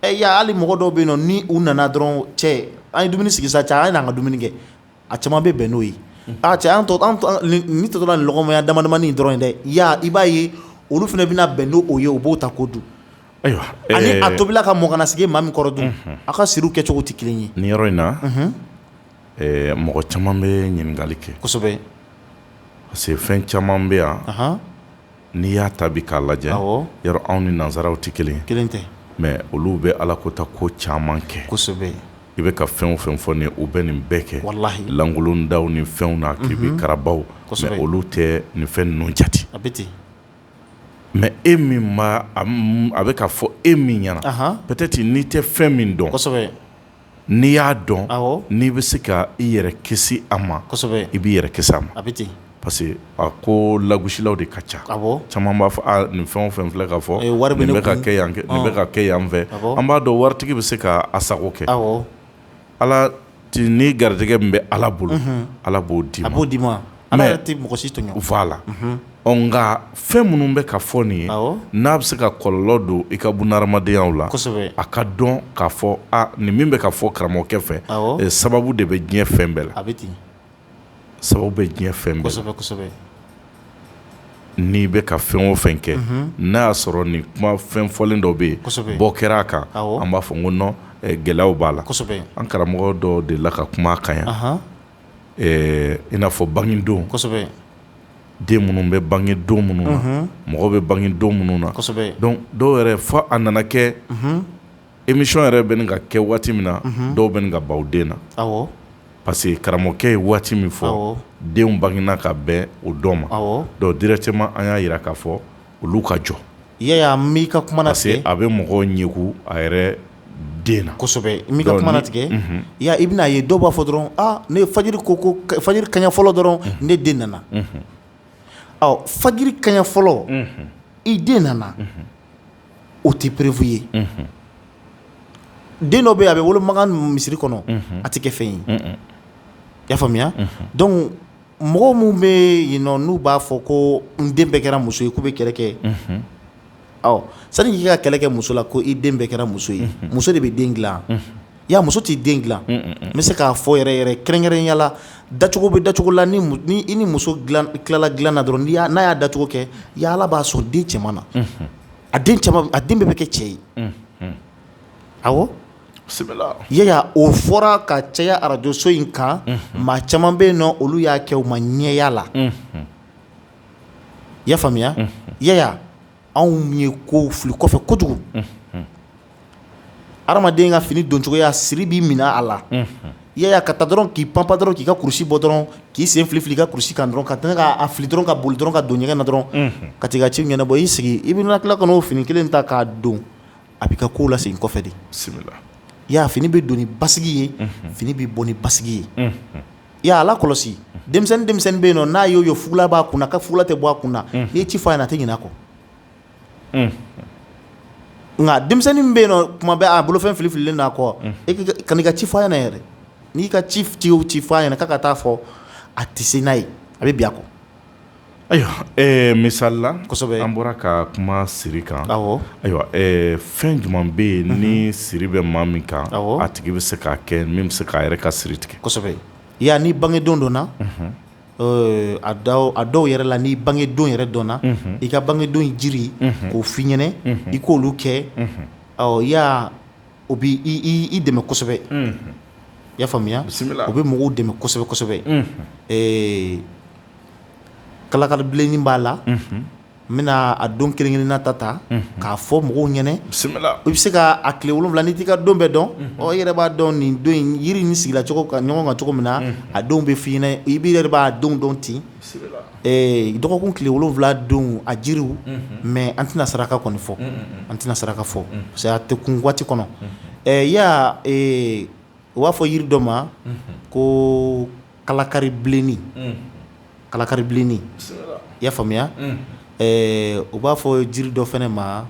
ɛ i y'a ye hali mɔgɔ dɔw bɛ yen nɔ ni u nana dɔrɔn cɛ an ye dumuni sigi sa cɛ a ye n'an ka dumuni kɛ a caman bɛ bɛn n'o ye unhun aa cɛ an tɔ an tɔ an nin nin tɔtɔ la nin lɔgɔmaya damadamanin dɔrɔn ye dɛ i y'a i b'a ye olu fɛnɛ bɛna bɛn n'o ye u b'o ta k'o dun ayiwa ɛɛ ani a tobila ka mɔ ka n'a sigi maa min kɔrɔ dun unhun a ka siriw kɛcogo tɛ kelen ye nin yɔrɔ in na unhun Ɛɛ mɔgɔ caman bɛ ɲininkali kɛ kosɛbɛ parce que fɛn caman bɛ yan n'i y'a ta bi k'a lajɛ yɔrɔ anw ni nansaraw tɛ kelen tɛ mais olu bɛ ala kota ko caman kɛ kosɛbɛ i bɛ ka fɛn o fɛn fɔ nin u bɛ nin bɛɛ kɛ walahi lankolondaw ni fɛnw na kiribikarabaw olu tɛ nin fɛn ninnu jate a bɛ ten mais e min ma a bɛ ka fɔ e min ɲɛna peut-être n'i tɛ fɛn min dɔn n'i y'a dɔn n'i bɛ se ka i yɛrɛ kisi a ma i b'i yɛrɛ kisi a ma parce que a ko lagusilaw de ka ca caman b'a fɔ nin fɛn o fɛn filɛ ka fɔ nin bɛ ka kɛ yan nin bɛ ka kɛ yan fɛ an b'a dɔn waritigi bɛ se ka a sago kɛ ala ni garijɛgɛ min bɛ ala bolo ala b'o d'i ma a b'o d'i ma Ala yɛrɛ tɛ mɔgɔ si tɔɲɔ voilà nka fɛn minnu bɛ ka fɔ nin ye n'a bɛ se ka kɔlɔlɔ don i ka bunahadamadenyaw la a ka dɔn ka fɔ nin min bɛ ka fɔ karamɔgɔkɛ fɛ sababu de bɛ diɲɛ fɛn bɛɛ la a bɛ ten sababu bɛ diɲɛ fɛn bɛɛ la kosɛbɛ n'i bɛ ka fɛn o fɛn kɛ n'a y'a sɔrɔ nin kuma fɛn fɔlen dɔ bɛ yen bɔ kɛra a kan an b'a fɔ n ko non gɛlɛyaw b'a la an karamɔgɔ dɔ dela ka kuma a kan yan ɛɛ i n'a fɔ bangedon den minnu bɛ bange don minnu na mɔgɔ bɛ bange don minnu na donc dɔw yɛrɛ fɔ a nana kɛ émission yɛrɛ bɛ nin ka kɛ waati min na dɔw bɛ nin ka baw den na parce que karamɔgɔkɛ ye waati min fɔ denw bangina ka bɛn o dɔ ma donc directement an y'a jira k'a fɔ olu ka jɔ ya m'i ka kuma na parce que a bɛ mɔgɔw ɲɛku a yɛrɛ den na kosɛbɛ m'i ka kuma tigɛ ya i bɛna a ye dɔw b'a fɔ dɔrɔn ne ye fajiri ko ko fajiri kaɲa fɔlɔ dɔrɔn ne den nana ɔ fajiri kaɲa fɔlɔ i den nana o tɛ preuve ye den dɔ bɛ a bɛ wolo makan misiri kɔnɔ a tɛ kɛ fɛn ye y'a faamuya mɔgɔ minnu bɛ yen n'u b'a fɔ ko n den bɛɛ kɛra muso ye k'u bɛ kɛlɛ kɛ sani k'i ka kɛlɛ kɛ muso la ko i den bɛɛ kɛra muso ye muso de bɛ den dilan ya muso t'i den dilan n bɛ se k'a fɔ yɛrɛ yɛrɛ kɛrɛnkɛrɛnya la dacogo bɛ dacogo la i ni muso tilala dilan na dɔrɔn n'a y'a dacogo kɛ ya ala b'a sɔn den cɛman na a den bɛɛ bɛ kɛ cɛ ye awɔ yaya o fɔra ka caya arajoso in kan maa caman bɛ yen nɔ olu y'a kɛ u ma ɲɛya la i y'a faamuya yaya anw ye ko fili kɔfɛ kojugu adamaden ka fini doncogoya siri b'i minɛ a la yaya ka taa dɔrɔn k'i panpan dɔrɔn k'i ka kurusi bɔ dɔrɔn k'i sen fili i ka kurusi kan dɔrɔn ka k'a fili dɔrɔn ka boli dɔrɔn ka don ɲɛgɛn na dɔrɔn ka t'i ka ci ɲɛnabɔ i sigi i bɛ tila ka n'o fini kelen ta k'a don a b'i ka kow lasegin kɔfɛ de ya fini bɛ don ni basigi ye fini bɛ bɔ ni basigi ye i y'a lakɔlɔsi denmisɛnnin denmisɛnnin bɛ yen nɔ n'a y'o ye fugula b'a kun na a ka fugula tɛ bɔ a kun na n'i ye ci fɔ a ɲɛna a tɛ ɲinɛ a kɔ nka denmisɛnnin min bɛ yen nɔ kuma bɛɛ a bolofɛn filifililen a kɔ ka n'i ka ci fɔ a ɲɛna yɛrɛ n'i ka ci ci ci fɔ a ɲɛna k'a ka taa fɔ a tɛ se n'a ye a bɛ bin a kɔ Ayiwa misali la an bɔra ka kuma siri kan ayiwa fɛn jumɛn bɛ yen ni siri bɛ maa min kan a tigi bɛ se k'a kɛ min bɛ se k'a yɛrɛ ka siri tigɛ kosɛbɛ ya n'i bangedon dɔnna a dɔw yɛrɛ la n'i bangedon yɛrɛ dɔnna i ka bangedon jiri k'o f'i ɲɛna i k'olu kɛ ɔ O bɛ i dɛmɛ kosɛbɛ i y'a faamuya bisimila o bɛ mɔgɔw dɛmɛ kosɛbɛ kosɛbɛ ɛɛ kalakaribilennin b'a la n bɛna a don kelen-kelenna ta ta k'a fɔ mɔgɔw ɲɛna bisimila i bɛ se k'a tile wolowula n'i t'i ka don bɛɛ dɔn ɔ i yɛrɛ b'a dɔn nin don in yiri in sigila cogo ka ɲɔgɔn kan cogo min na a don bɛ f'i ɲɛna i bɛ yɛrɛ b'a don dɔn ten dɔgɔkun tile wolonwula don a jiriw mais an tɛna saraka kɔni fɔ an tɛna saraka fɔ parce que a tɛ kun waati kɔnɔ ɛ ya u b'a fɔ yiri dɔ ma ko kalakaribilennin kalakaribilennin i y'a faamuya u b'a fɔ jiri dɔ fɛnɛ ma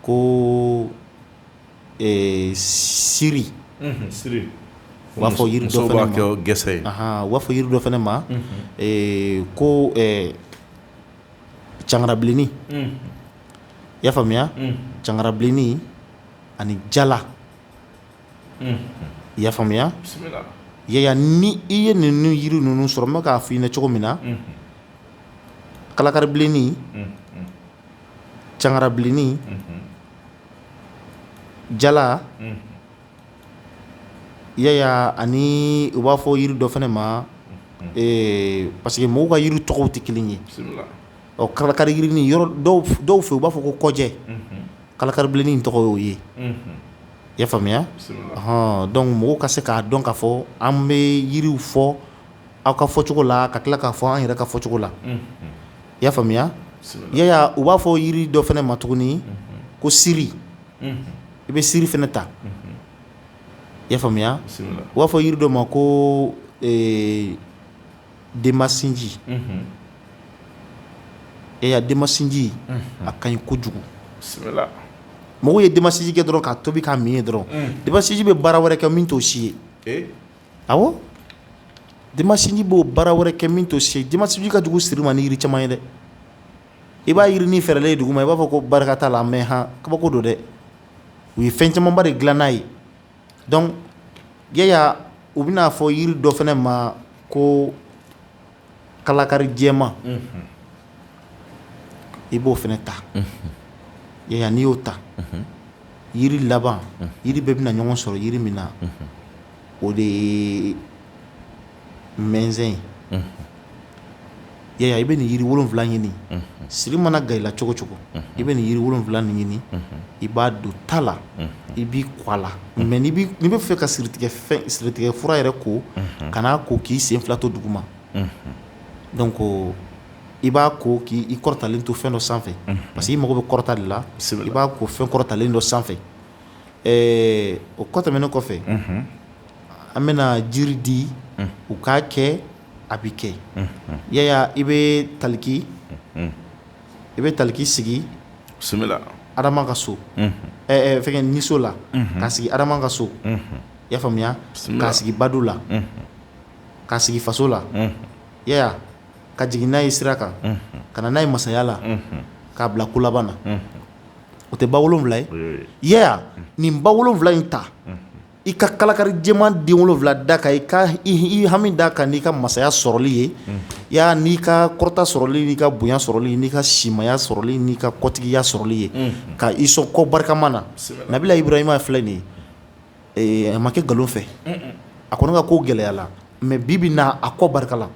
ko siri u b'a fɔ gese ye b'a fɔ yiri dɔ fɛnɛ ma ko cangarabilennin i y'a faamuya cangarabilennin ani jala i y'a faamuya yaya ni i ye ninnu yiri ninnu sɔrɔ n bɛ k'a f'i ɲɛna cogo min na kalakaribilennin cangarabilennin jala yaya ani u b'a fɔ yiri dɔ fɛnɛ ma parce que mɔgɔw ka yiri tɔgɔw tɛ kelen ye ɔ kalakari yiri nin yɔrɔ dɔw fɛ u b'a fɔ ko kɔjɛ kalakaribilenin tɔgɔ y'o ye i y'a faamuya han donc mɔgɔw ka se k'a dɔn k'a fɔ an bɛ yiriw fɔ aw ka fɔ cogo la ka tila k'a fɔ an yɛrɛ ka fɔ cogo la i y'a faamuya yaya u b'a fɔ yiri dɔ fɛnɛ ma tuguni ko siri i bɛ siri fɛnɛ ta i y'a faamuya u b'a fɔ yiri dɔ ma ko denmasinji yaya denmasinji a ka ɲi kojugu mɔgɔw ye denmasinji kɛ dɔrɔn k'a tobi k'a min ye dɔrɔn denmasinji bɛ baara wɛrɛ kɛ min t'o si ye awɔ denmasinji b'o baara wɛrɛ kɛ min t'o si ye denmasinji ka jugu siri ma ni yiri caman ye dɛ i b'a yiri nin fɛrɛlen ye dugu ma i b'a fɔ ko barika t'a la mais han kabako don dɛ u ye fɛn camanba de dilan n'a ye donc yaya u bɛn'a fɔ yiri dɔ fɛnɛ ma ko kalakari jɛma i b'o fɛnɛ ta yaya n'i y'o ta yiri laban yiri bɛɛ bɛna ɲɔgɔn sɔrɔ yiri min na o de ye mɛnzɛn ye yaya i bɛ nin yiri wolonwula ɲini siri mana gan i la cogo cogo i bɛ nin yiri wolonwula nin ɲini i b'a don ta la i b'i ko a la mais n'i bɛ fɛ ka siritigɛ fura yɛrɛ ko kan'a ko k'i sen fila to dugu ma donc i b'a ko k'i kɔrɔtalen to fɛn dɔ sanfɛ parce que i mago bɛ kɔrɔta de la i b'a ko fɛn kɔrɔtalen dɔ sanfɛ o kɔ tɛmɛnen kɔfɛ an bɛna jiri di u k'a kɛ a bɛ kɛ yaya i bɛ taliki i bɛ taliki sigi adama ka so fɛn niso la k'a sigi adama ka so i y'a faamuya k'a sigi badu la ka sigi faso la yaya ka jigin n'a ye sira kan ka na n'a ye masaya la k'a bila ko laban na o tɛ ba wolowula ye yaya nin ba wolowula in ta I ka kalakari jɛman den wolonwula da kan i ka i hami da kan n'i ka masaya sɔrɔli ye ya n'i ka kɔrɔta sɔrɔli n'i ka bonya sɔrɔli n'i ka simaya sɔrɔli n'i ka kɔtigiya sɔrɔli ye ka i sɔn kɔ barikama na Nabila Ibrahima filɛ nin ye a ma kɛ nkalon fɛ a kɔni ka ko gɛlɛyala mais bi bi na a kɔ barika la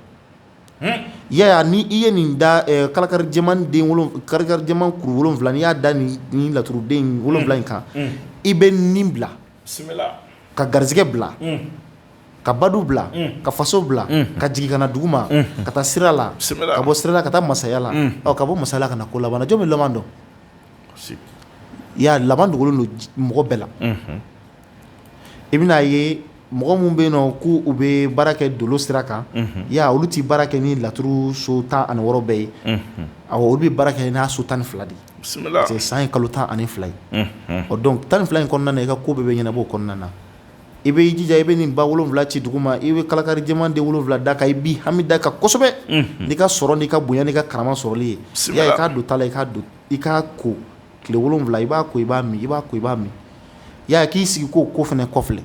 ya ni i ye nin da kalakari jɛman den kalakari jɛman kuru wolonwula n'i y'a da nin laturuden wolonwula in kan i bɛ nin bila ka garisɛgɛ bila ka badu bila ka faso bila ka jigin ka na dugu ma ka taa sira la ka bɔ sira la ka taa masaya la ka bɔ masaya la ka na ko laban na jɔn bɛ laban dɔn ya laban dogolen don mɔgɔ bɛɛ la i bɛna ye mɔgɔ minnu bɛ yen nɔ k'u bɛ baara kɛ dolo sira kan ya olu tɛ baara kɛ ni laturu so tan ani wɔɔrɔ bɛɛ ye a olu bɛ baara kɛ n'a so tan ni fila de ye san ye kalo tan ani fila ye o donc tan ni fila in kɔnɔna na i ka ko bɛɛ bɛ ɲɛnabɔ o kɔnɔna na i bɛ jija i bɛ nin ba wolonwula ci dugu ma i bɛ kalakari jɛman den wolonwula da kan i b'i hami da kan kosɛbɛ n'i ka sɔrɔ n'i ka bonya n'i ka karama sɔrɔli ye i k'a don ta la i k'a don i k'a ko tile wolonwula i b'a ko i b'a min i b'a ko i b'a min i y'a ye k'i sigi k'o ko fana kɔfilɛ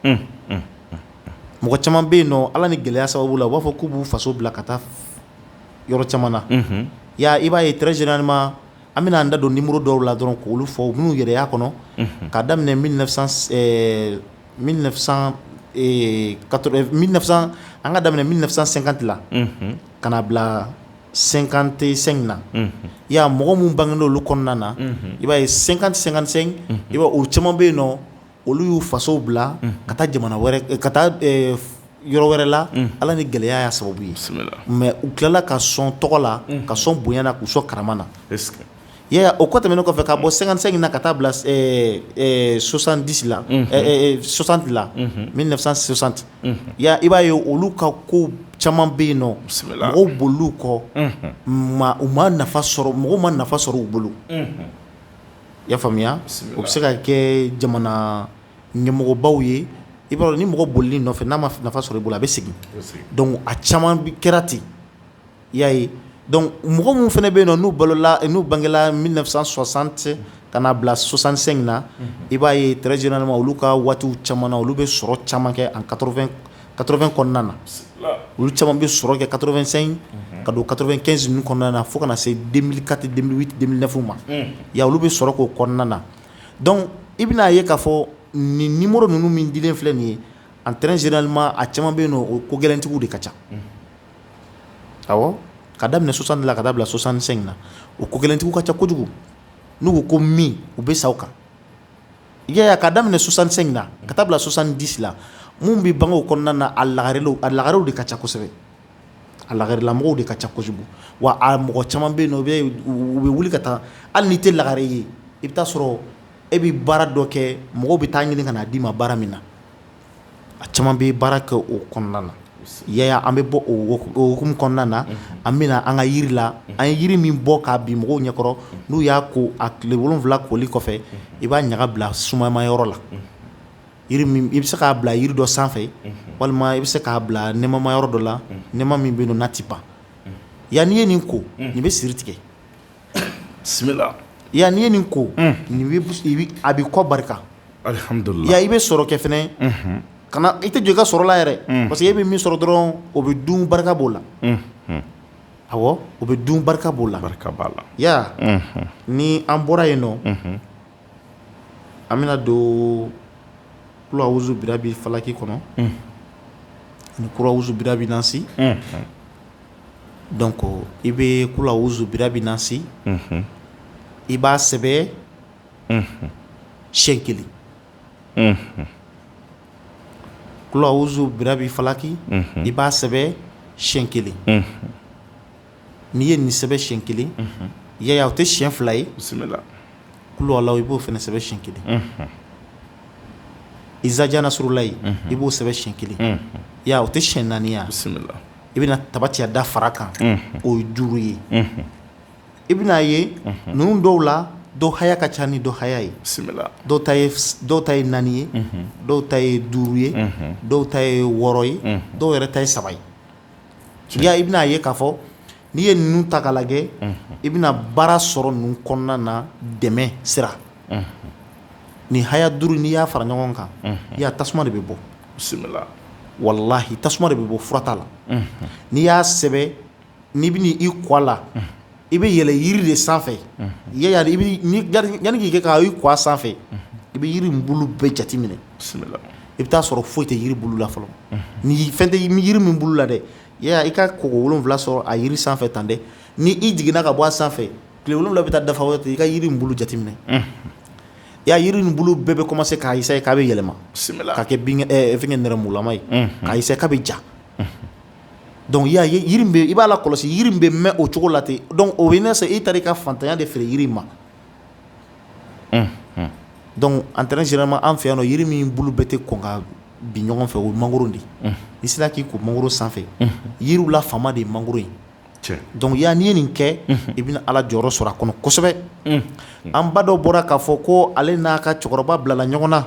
unhun unhun mɔgɔ caman bɛ yen nɔ Ala ni gɛlɛya sababu la u b'a fɔ k'u b'u faso bila ka taa yɔrɔ caman na unhun i y'a ye i b'a ye très généralement an bɛna an da don numéro dɔw la dɔrɔn k'olu fɔ minnu yɛrɛ y'a kɔnɔ unhun k'a daminɛ 1900 ɛɛ 1900 ee 80 1900 an ka daminɛ 1950 la unhun ka na bila 55 na ya mɔgɔ minnu bangela olu kɔnɔna na i b'a ye 50 55 i b'a o caman bɛ yen nɔ olu y'u fasow bila ka taa jamana wɛrɛ ka taa yɔrɔ wɛrɛ la ala ni gɛlɛya y'a sababu ye mais u tilala ka sɔn tɔgɔ la ka sɔn bonya na k'u sɔn karama na o kɔ tɛmɛnen kɔfɛ ka bɔ 55 na ka taa bila 70 la 60 la 1960 ya i b'a ye olu ka ko caman bɛ yen nɔ mɔgɔw bolil'u kɔ mais u ma nafa sɔrɔ mɔgɔw ma nafa sɔrɔ u bolo i y'a faamuya u bɛ se ka kɛ jamana ɲɛmɔgɔbaw ye i b'a dɔn ni mɔgɔ bolil'i nɔfɛ n'a ma nafa sɔrɔ i bolo a bɛ segin donc a caman kɛra ten y yaa ye dɔnku mɔgɔ minnu fana bɛ yen na n'u balola n'u bangela mi sɔsan tɛ ka n'a bila sosansen in na i b'a ye tz nema olu ka waati caman na olu bɛ sɔrɔ caman kɛ an kafɛn kɔnɔna na olu caman bɛ sɔrɔ kɛ kafɛnsen ka don kafɛn kɛnsin ninnu kɔnɔna na fo kana na se kati denfw ma ya olu bɛ sɔrɔ k'o kɔnɔna na dɔnku i bɛna'a ye k'a fɔ nin ni mori ninnu min di filɛ nin ye an tz nema a caman bɛ yen o ko gɛlɛnlɛntigiw de ka ca ka daminɛ soixante la ka taa bila soixante-cinq na o ko gɛlɛntigiw ka ca kojugu n'u ko ko min u bɛ sa o kan i y'a ye ka daminɛ soixante-cinq na ka taa bila soixante-dix la minnu bɛ bange o kɔnɔna na a laga a lagarew de ka ca kosɛbɛ a lagarelamɔgɔw de ka ca kojugu wa a mɔgɔ caman bɛ yen nɔ u bɛ wuli ka taa hali n'i tɛ lagare ye i bɛ taa sɔrɔ e bɛ baara dɔ kɛ mɔgɔw bɛ taa ɲini ka na d'i ma baara min na a caman bɛ baara kɛ o kɔnɔna na yaya an bɛ bɔ o hukumu kɔnɔna na an bɛna an ka yiri la an ye yiri min bɔ k'a bin mɔgɔw ɲɛkɔrɔ n'u y'a ko a tile wolon wolonwula koli kɔfɛ i b'a ɲaga bila sumama yɔrɔ la i bɛ se k'a bila yiri dɔ sanfɛ walima i bɛ se k'a bila nɛɛmama yɔrɔ dɔ la nɛɛma min bɛ yen nɔ n'a tɛ ban ya n'i ye nin ko nin bɛ siri tigɛ bisimila ya n'i ye nin ko a bɛ kɔ barika ya i bɛ sɔrɔ kɛ fɛnɛ kana i tɛ jɔ i ka sɔrɔ la yɛrɛ parce que e bɛ min sɔrɔ dɔrɔn o bɛ dun barika b'o la awɔ o bɛ dun barika b'o la barika b'a la ya ni an bɔra yen nɔ an bɛna don kula awuzu birabi falaki kɔnɔ ni kula awuzu birabi nasi donc i bɛ kula awuzu birabi nasi i b'a sɛbɛ siyɛn kelen kula awuzu birabi falaki i b'a sɛbɛ siyɛn kelen n'i ye nin sɛbɛn siyɛn kelen yaya o tɛ siyɛn fila ye bisimila kulu walawu i b'o fana sɛbɛn siyɛn kelen izaja nasurulayi i b'o sɛbɛn siyɛn kelen ya o tɛ siyɛn naani ye bisimila i bɛna tabati yada fara kan o ye duuru ye i bɛna a ye ninnu dɔw la dɔ haya ka ca ni dɔ haya ye bisimila dɔw ta ye naani ye dɔw ta ye duuru ye dɔw ta ye wɔɔrɔ ye dɔw yɛrɛ ta ye saba ye tiɲɛ ya i bɛna a ye k'a fɔ n'i ye ninnu ta k'a lajɛ i bɛna baara sɔrɔ ninnu kɔnɔna na dɛmɛ sira nin haya duuru n'i y'a fara ɲɔgɔn kan i ya tasuma de bɛ bɔ bisimila walahi tasuma de bɛ bɔ fura t'a la n'i y'a sɛbɛ n'i bɛna i ko a la i bɛ yɛlɛ yiri de sanfɛ yanani k'i kɛ k'i ko a sanfɛ i bɛ yiri bulu bɛɛ jate minɛ bisimila i bɛ taa sɔrɔ foyi tɛ yiri bulu la fɔlɔ ni fɛn tɛ yiri min bulu la dɛ i ka koko wolonwula sɔrɔ a yiri sanfɛ tan dɛ ni i jiginna ka bɔ a sanfɛ tile wolonwula bɛ taa dafa ten i ka yiri bulu jateminɛ ya yiri nin bulu bɛɛ bɛ commencer k'a essayer k'a bɛ yɛlɛma ka kɛ nɛrɛmugulama ye ka ka bɛ ja dɔnku ya i b'a lakɔlɔsi yiri bɛ mɛn o cogo la ten dɔnku o ne se i taara i ka faantanya de feere yiri ma dɔnku en termes généralement an fɛ yan yiri min bulu bɛɛ tɛ kɔn ka bin ɲɔgɔn fɛ o ye mangoro de n'i sera k'i ko mangoro sanfɛ yiriw la faama de ye mangoro ye dɔnku y'a ye n'i ye nin kɛ i bɛna ala jɔyɔrɔ sɔrɔ a kɔnɔ kosɛbɛ an ba dɔ bɔra k'a fɔ ko ale n'a ka cɛkɔrɔba bilala ɲɔgɔn na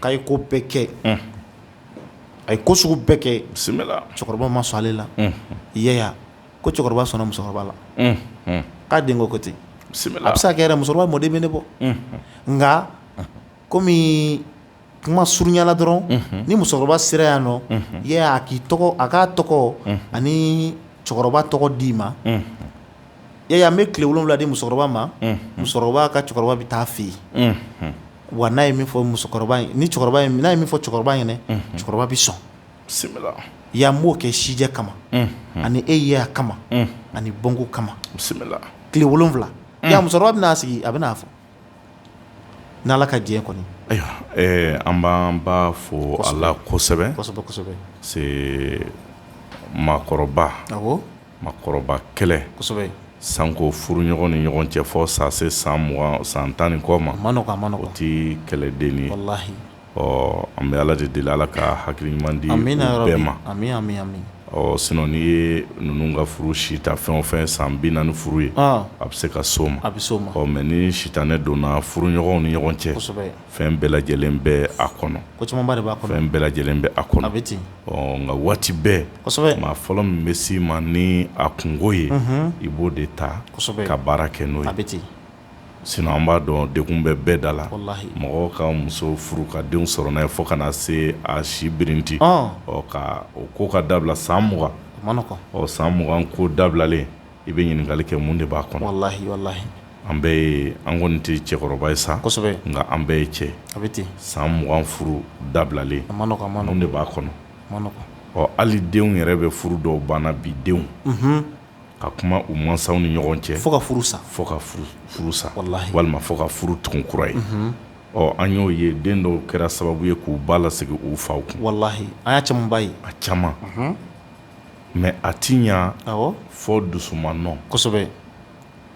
k'a ye ko bɛɛ kɛ a ye ko sugu bɛɛ kɛ cɛkɔrɔba ma sɔn ale la i ko cɛkɔrɔba sɔnna musokɔrɔba la k'a den ko ten a bɛ se ka kɛ yɛrɛ musokɔrɔba mɔden bɛ ne bɔ nka kɔmi kuma surunya la dɔrɔn ni musokɔrɔba sera yan nɔ i y'a ye a k'i tɔgɔ a k'a tɔgɔ ani cɛkɔrɔba tɔgɔ d'i ma i y'a ye an bɛ tile wolonwula di musokɔrɔba ma musokɔrɔba ka cɛkɔrɔba bɛ taa fɛ yen wa n'a ye min fɔ musokɔrɔba ye ni cɛkɔrɔba n'a ye min fɔ cɛkɔrɔba ɲɛna cɛkɔrɔba bɛ sɔn bisimila yan n b'o kɛ sijɛ kama ani e yeya kama ani bɔnko kama bisimila tile wolonwula musokɔrɔba bɛn'a sigi a bɛn'a fɔ N' ala ka diɲɛ kɔnɔ an b'an ba fo a la kosɛbɛ mɔgɔkɔrɔba mɔgɔkɔrɔba kɛlɛ sanko furuɲɔgɔn ni ɲɔgɔn cɛ fo sa se san mugan san tan ni kɔ ma o tɛ kɛlɛden ye ɔ an bɛ ala de deli ala ka hakili ɲuman di bɛɛ ma ɔ sinon n'i ye ninnu ka furu si ta fɛn o fɛn san bi naani furu ye a bɛ se ka s'o ma a bɛ se ɔ mɛ ni sitanɛ donna furuɲɔgɔnw ni ɲɔgɔn cɛ fɛn bɛɛ lajɛlen bɛ a kɔnɔ fɛn bɛɛ lajɛlen bɛ a kɔnɔ a bɛ ten ɔ nka waati bɛɛ maa fɔlɔ min bɛ s'i ma ni a kunko ye i b'o de ta ka baara kɛ n'o ye a bɛ ten Sinon an b'a dɔn degun bɛ bɛɛ da la, walahi, mɔgɔ ka muso furu ka denw sɔrɔ n'a ye fo ka na se a si birinti, ɔn, ɔ ka o ko ka dabila san 20, a ma nɔgɔ, ɔ san 20 ko dabilalen i bɛ ɲininkali kɛ mun de b'a kɔnɔ, walahi, walahi, an bɛɛ ye an kɔni tɛ cɛkɔrɔba ye sa, kosɛbɛ, nka an bɛɛ ye cɛ ye, a bɛ ten, san 20 furu dabilalen, a ma nɔgɔ, a ma nɔgɔ, mun de b'a kɔnɔ, a ma nɔgɔ, ɔ hali denw yɛrɛ bɛ furu dɔw banna bi denw, unhun, ka kuma u mansaw ni ɲɔgɔn cɛ fo ka furu sa fo ka furu sa walima fo ka furu tugun kura ye ɔ an y'o ye den dɔw kɛra sababu ye k'u ba lasegin u faw kun walahi an y'a camanba ye a caman mɛ a ti ɲa fo dusu ma nɔ kosɛbɛ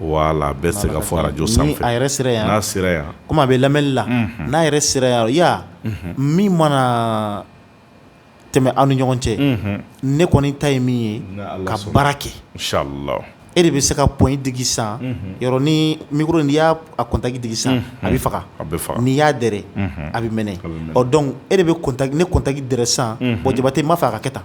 wala bɛ se ka fɔ arajo san a yɛrɛ sera yan n'a sera yan kɔmi a bɛ lamɛnli la n'a yɛrɛ sera yan ya min mana tɛmɛ aw ni ɲɔgɔn cɛ ne kɔni ta ye min ye ka baara kɛ e de bɛ se ka pɔn digi san yɔrɔ ni mikoro n'i y'a kɔntaki digi san a bɛ faga n'i y'a dɛrɛ a bɛ mɛnɛ dɔnki e de bɛ ne kɔntaki dɛrɛ san bɔn jabatɛ n b'a fɛ a ka kɛ tan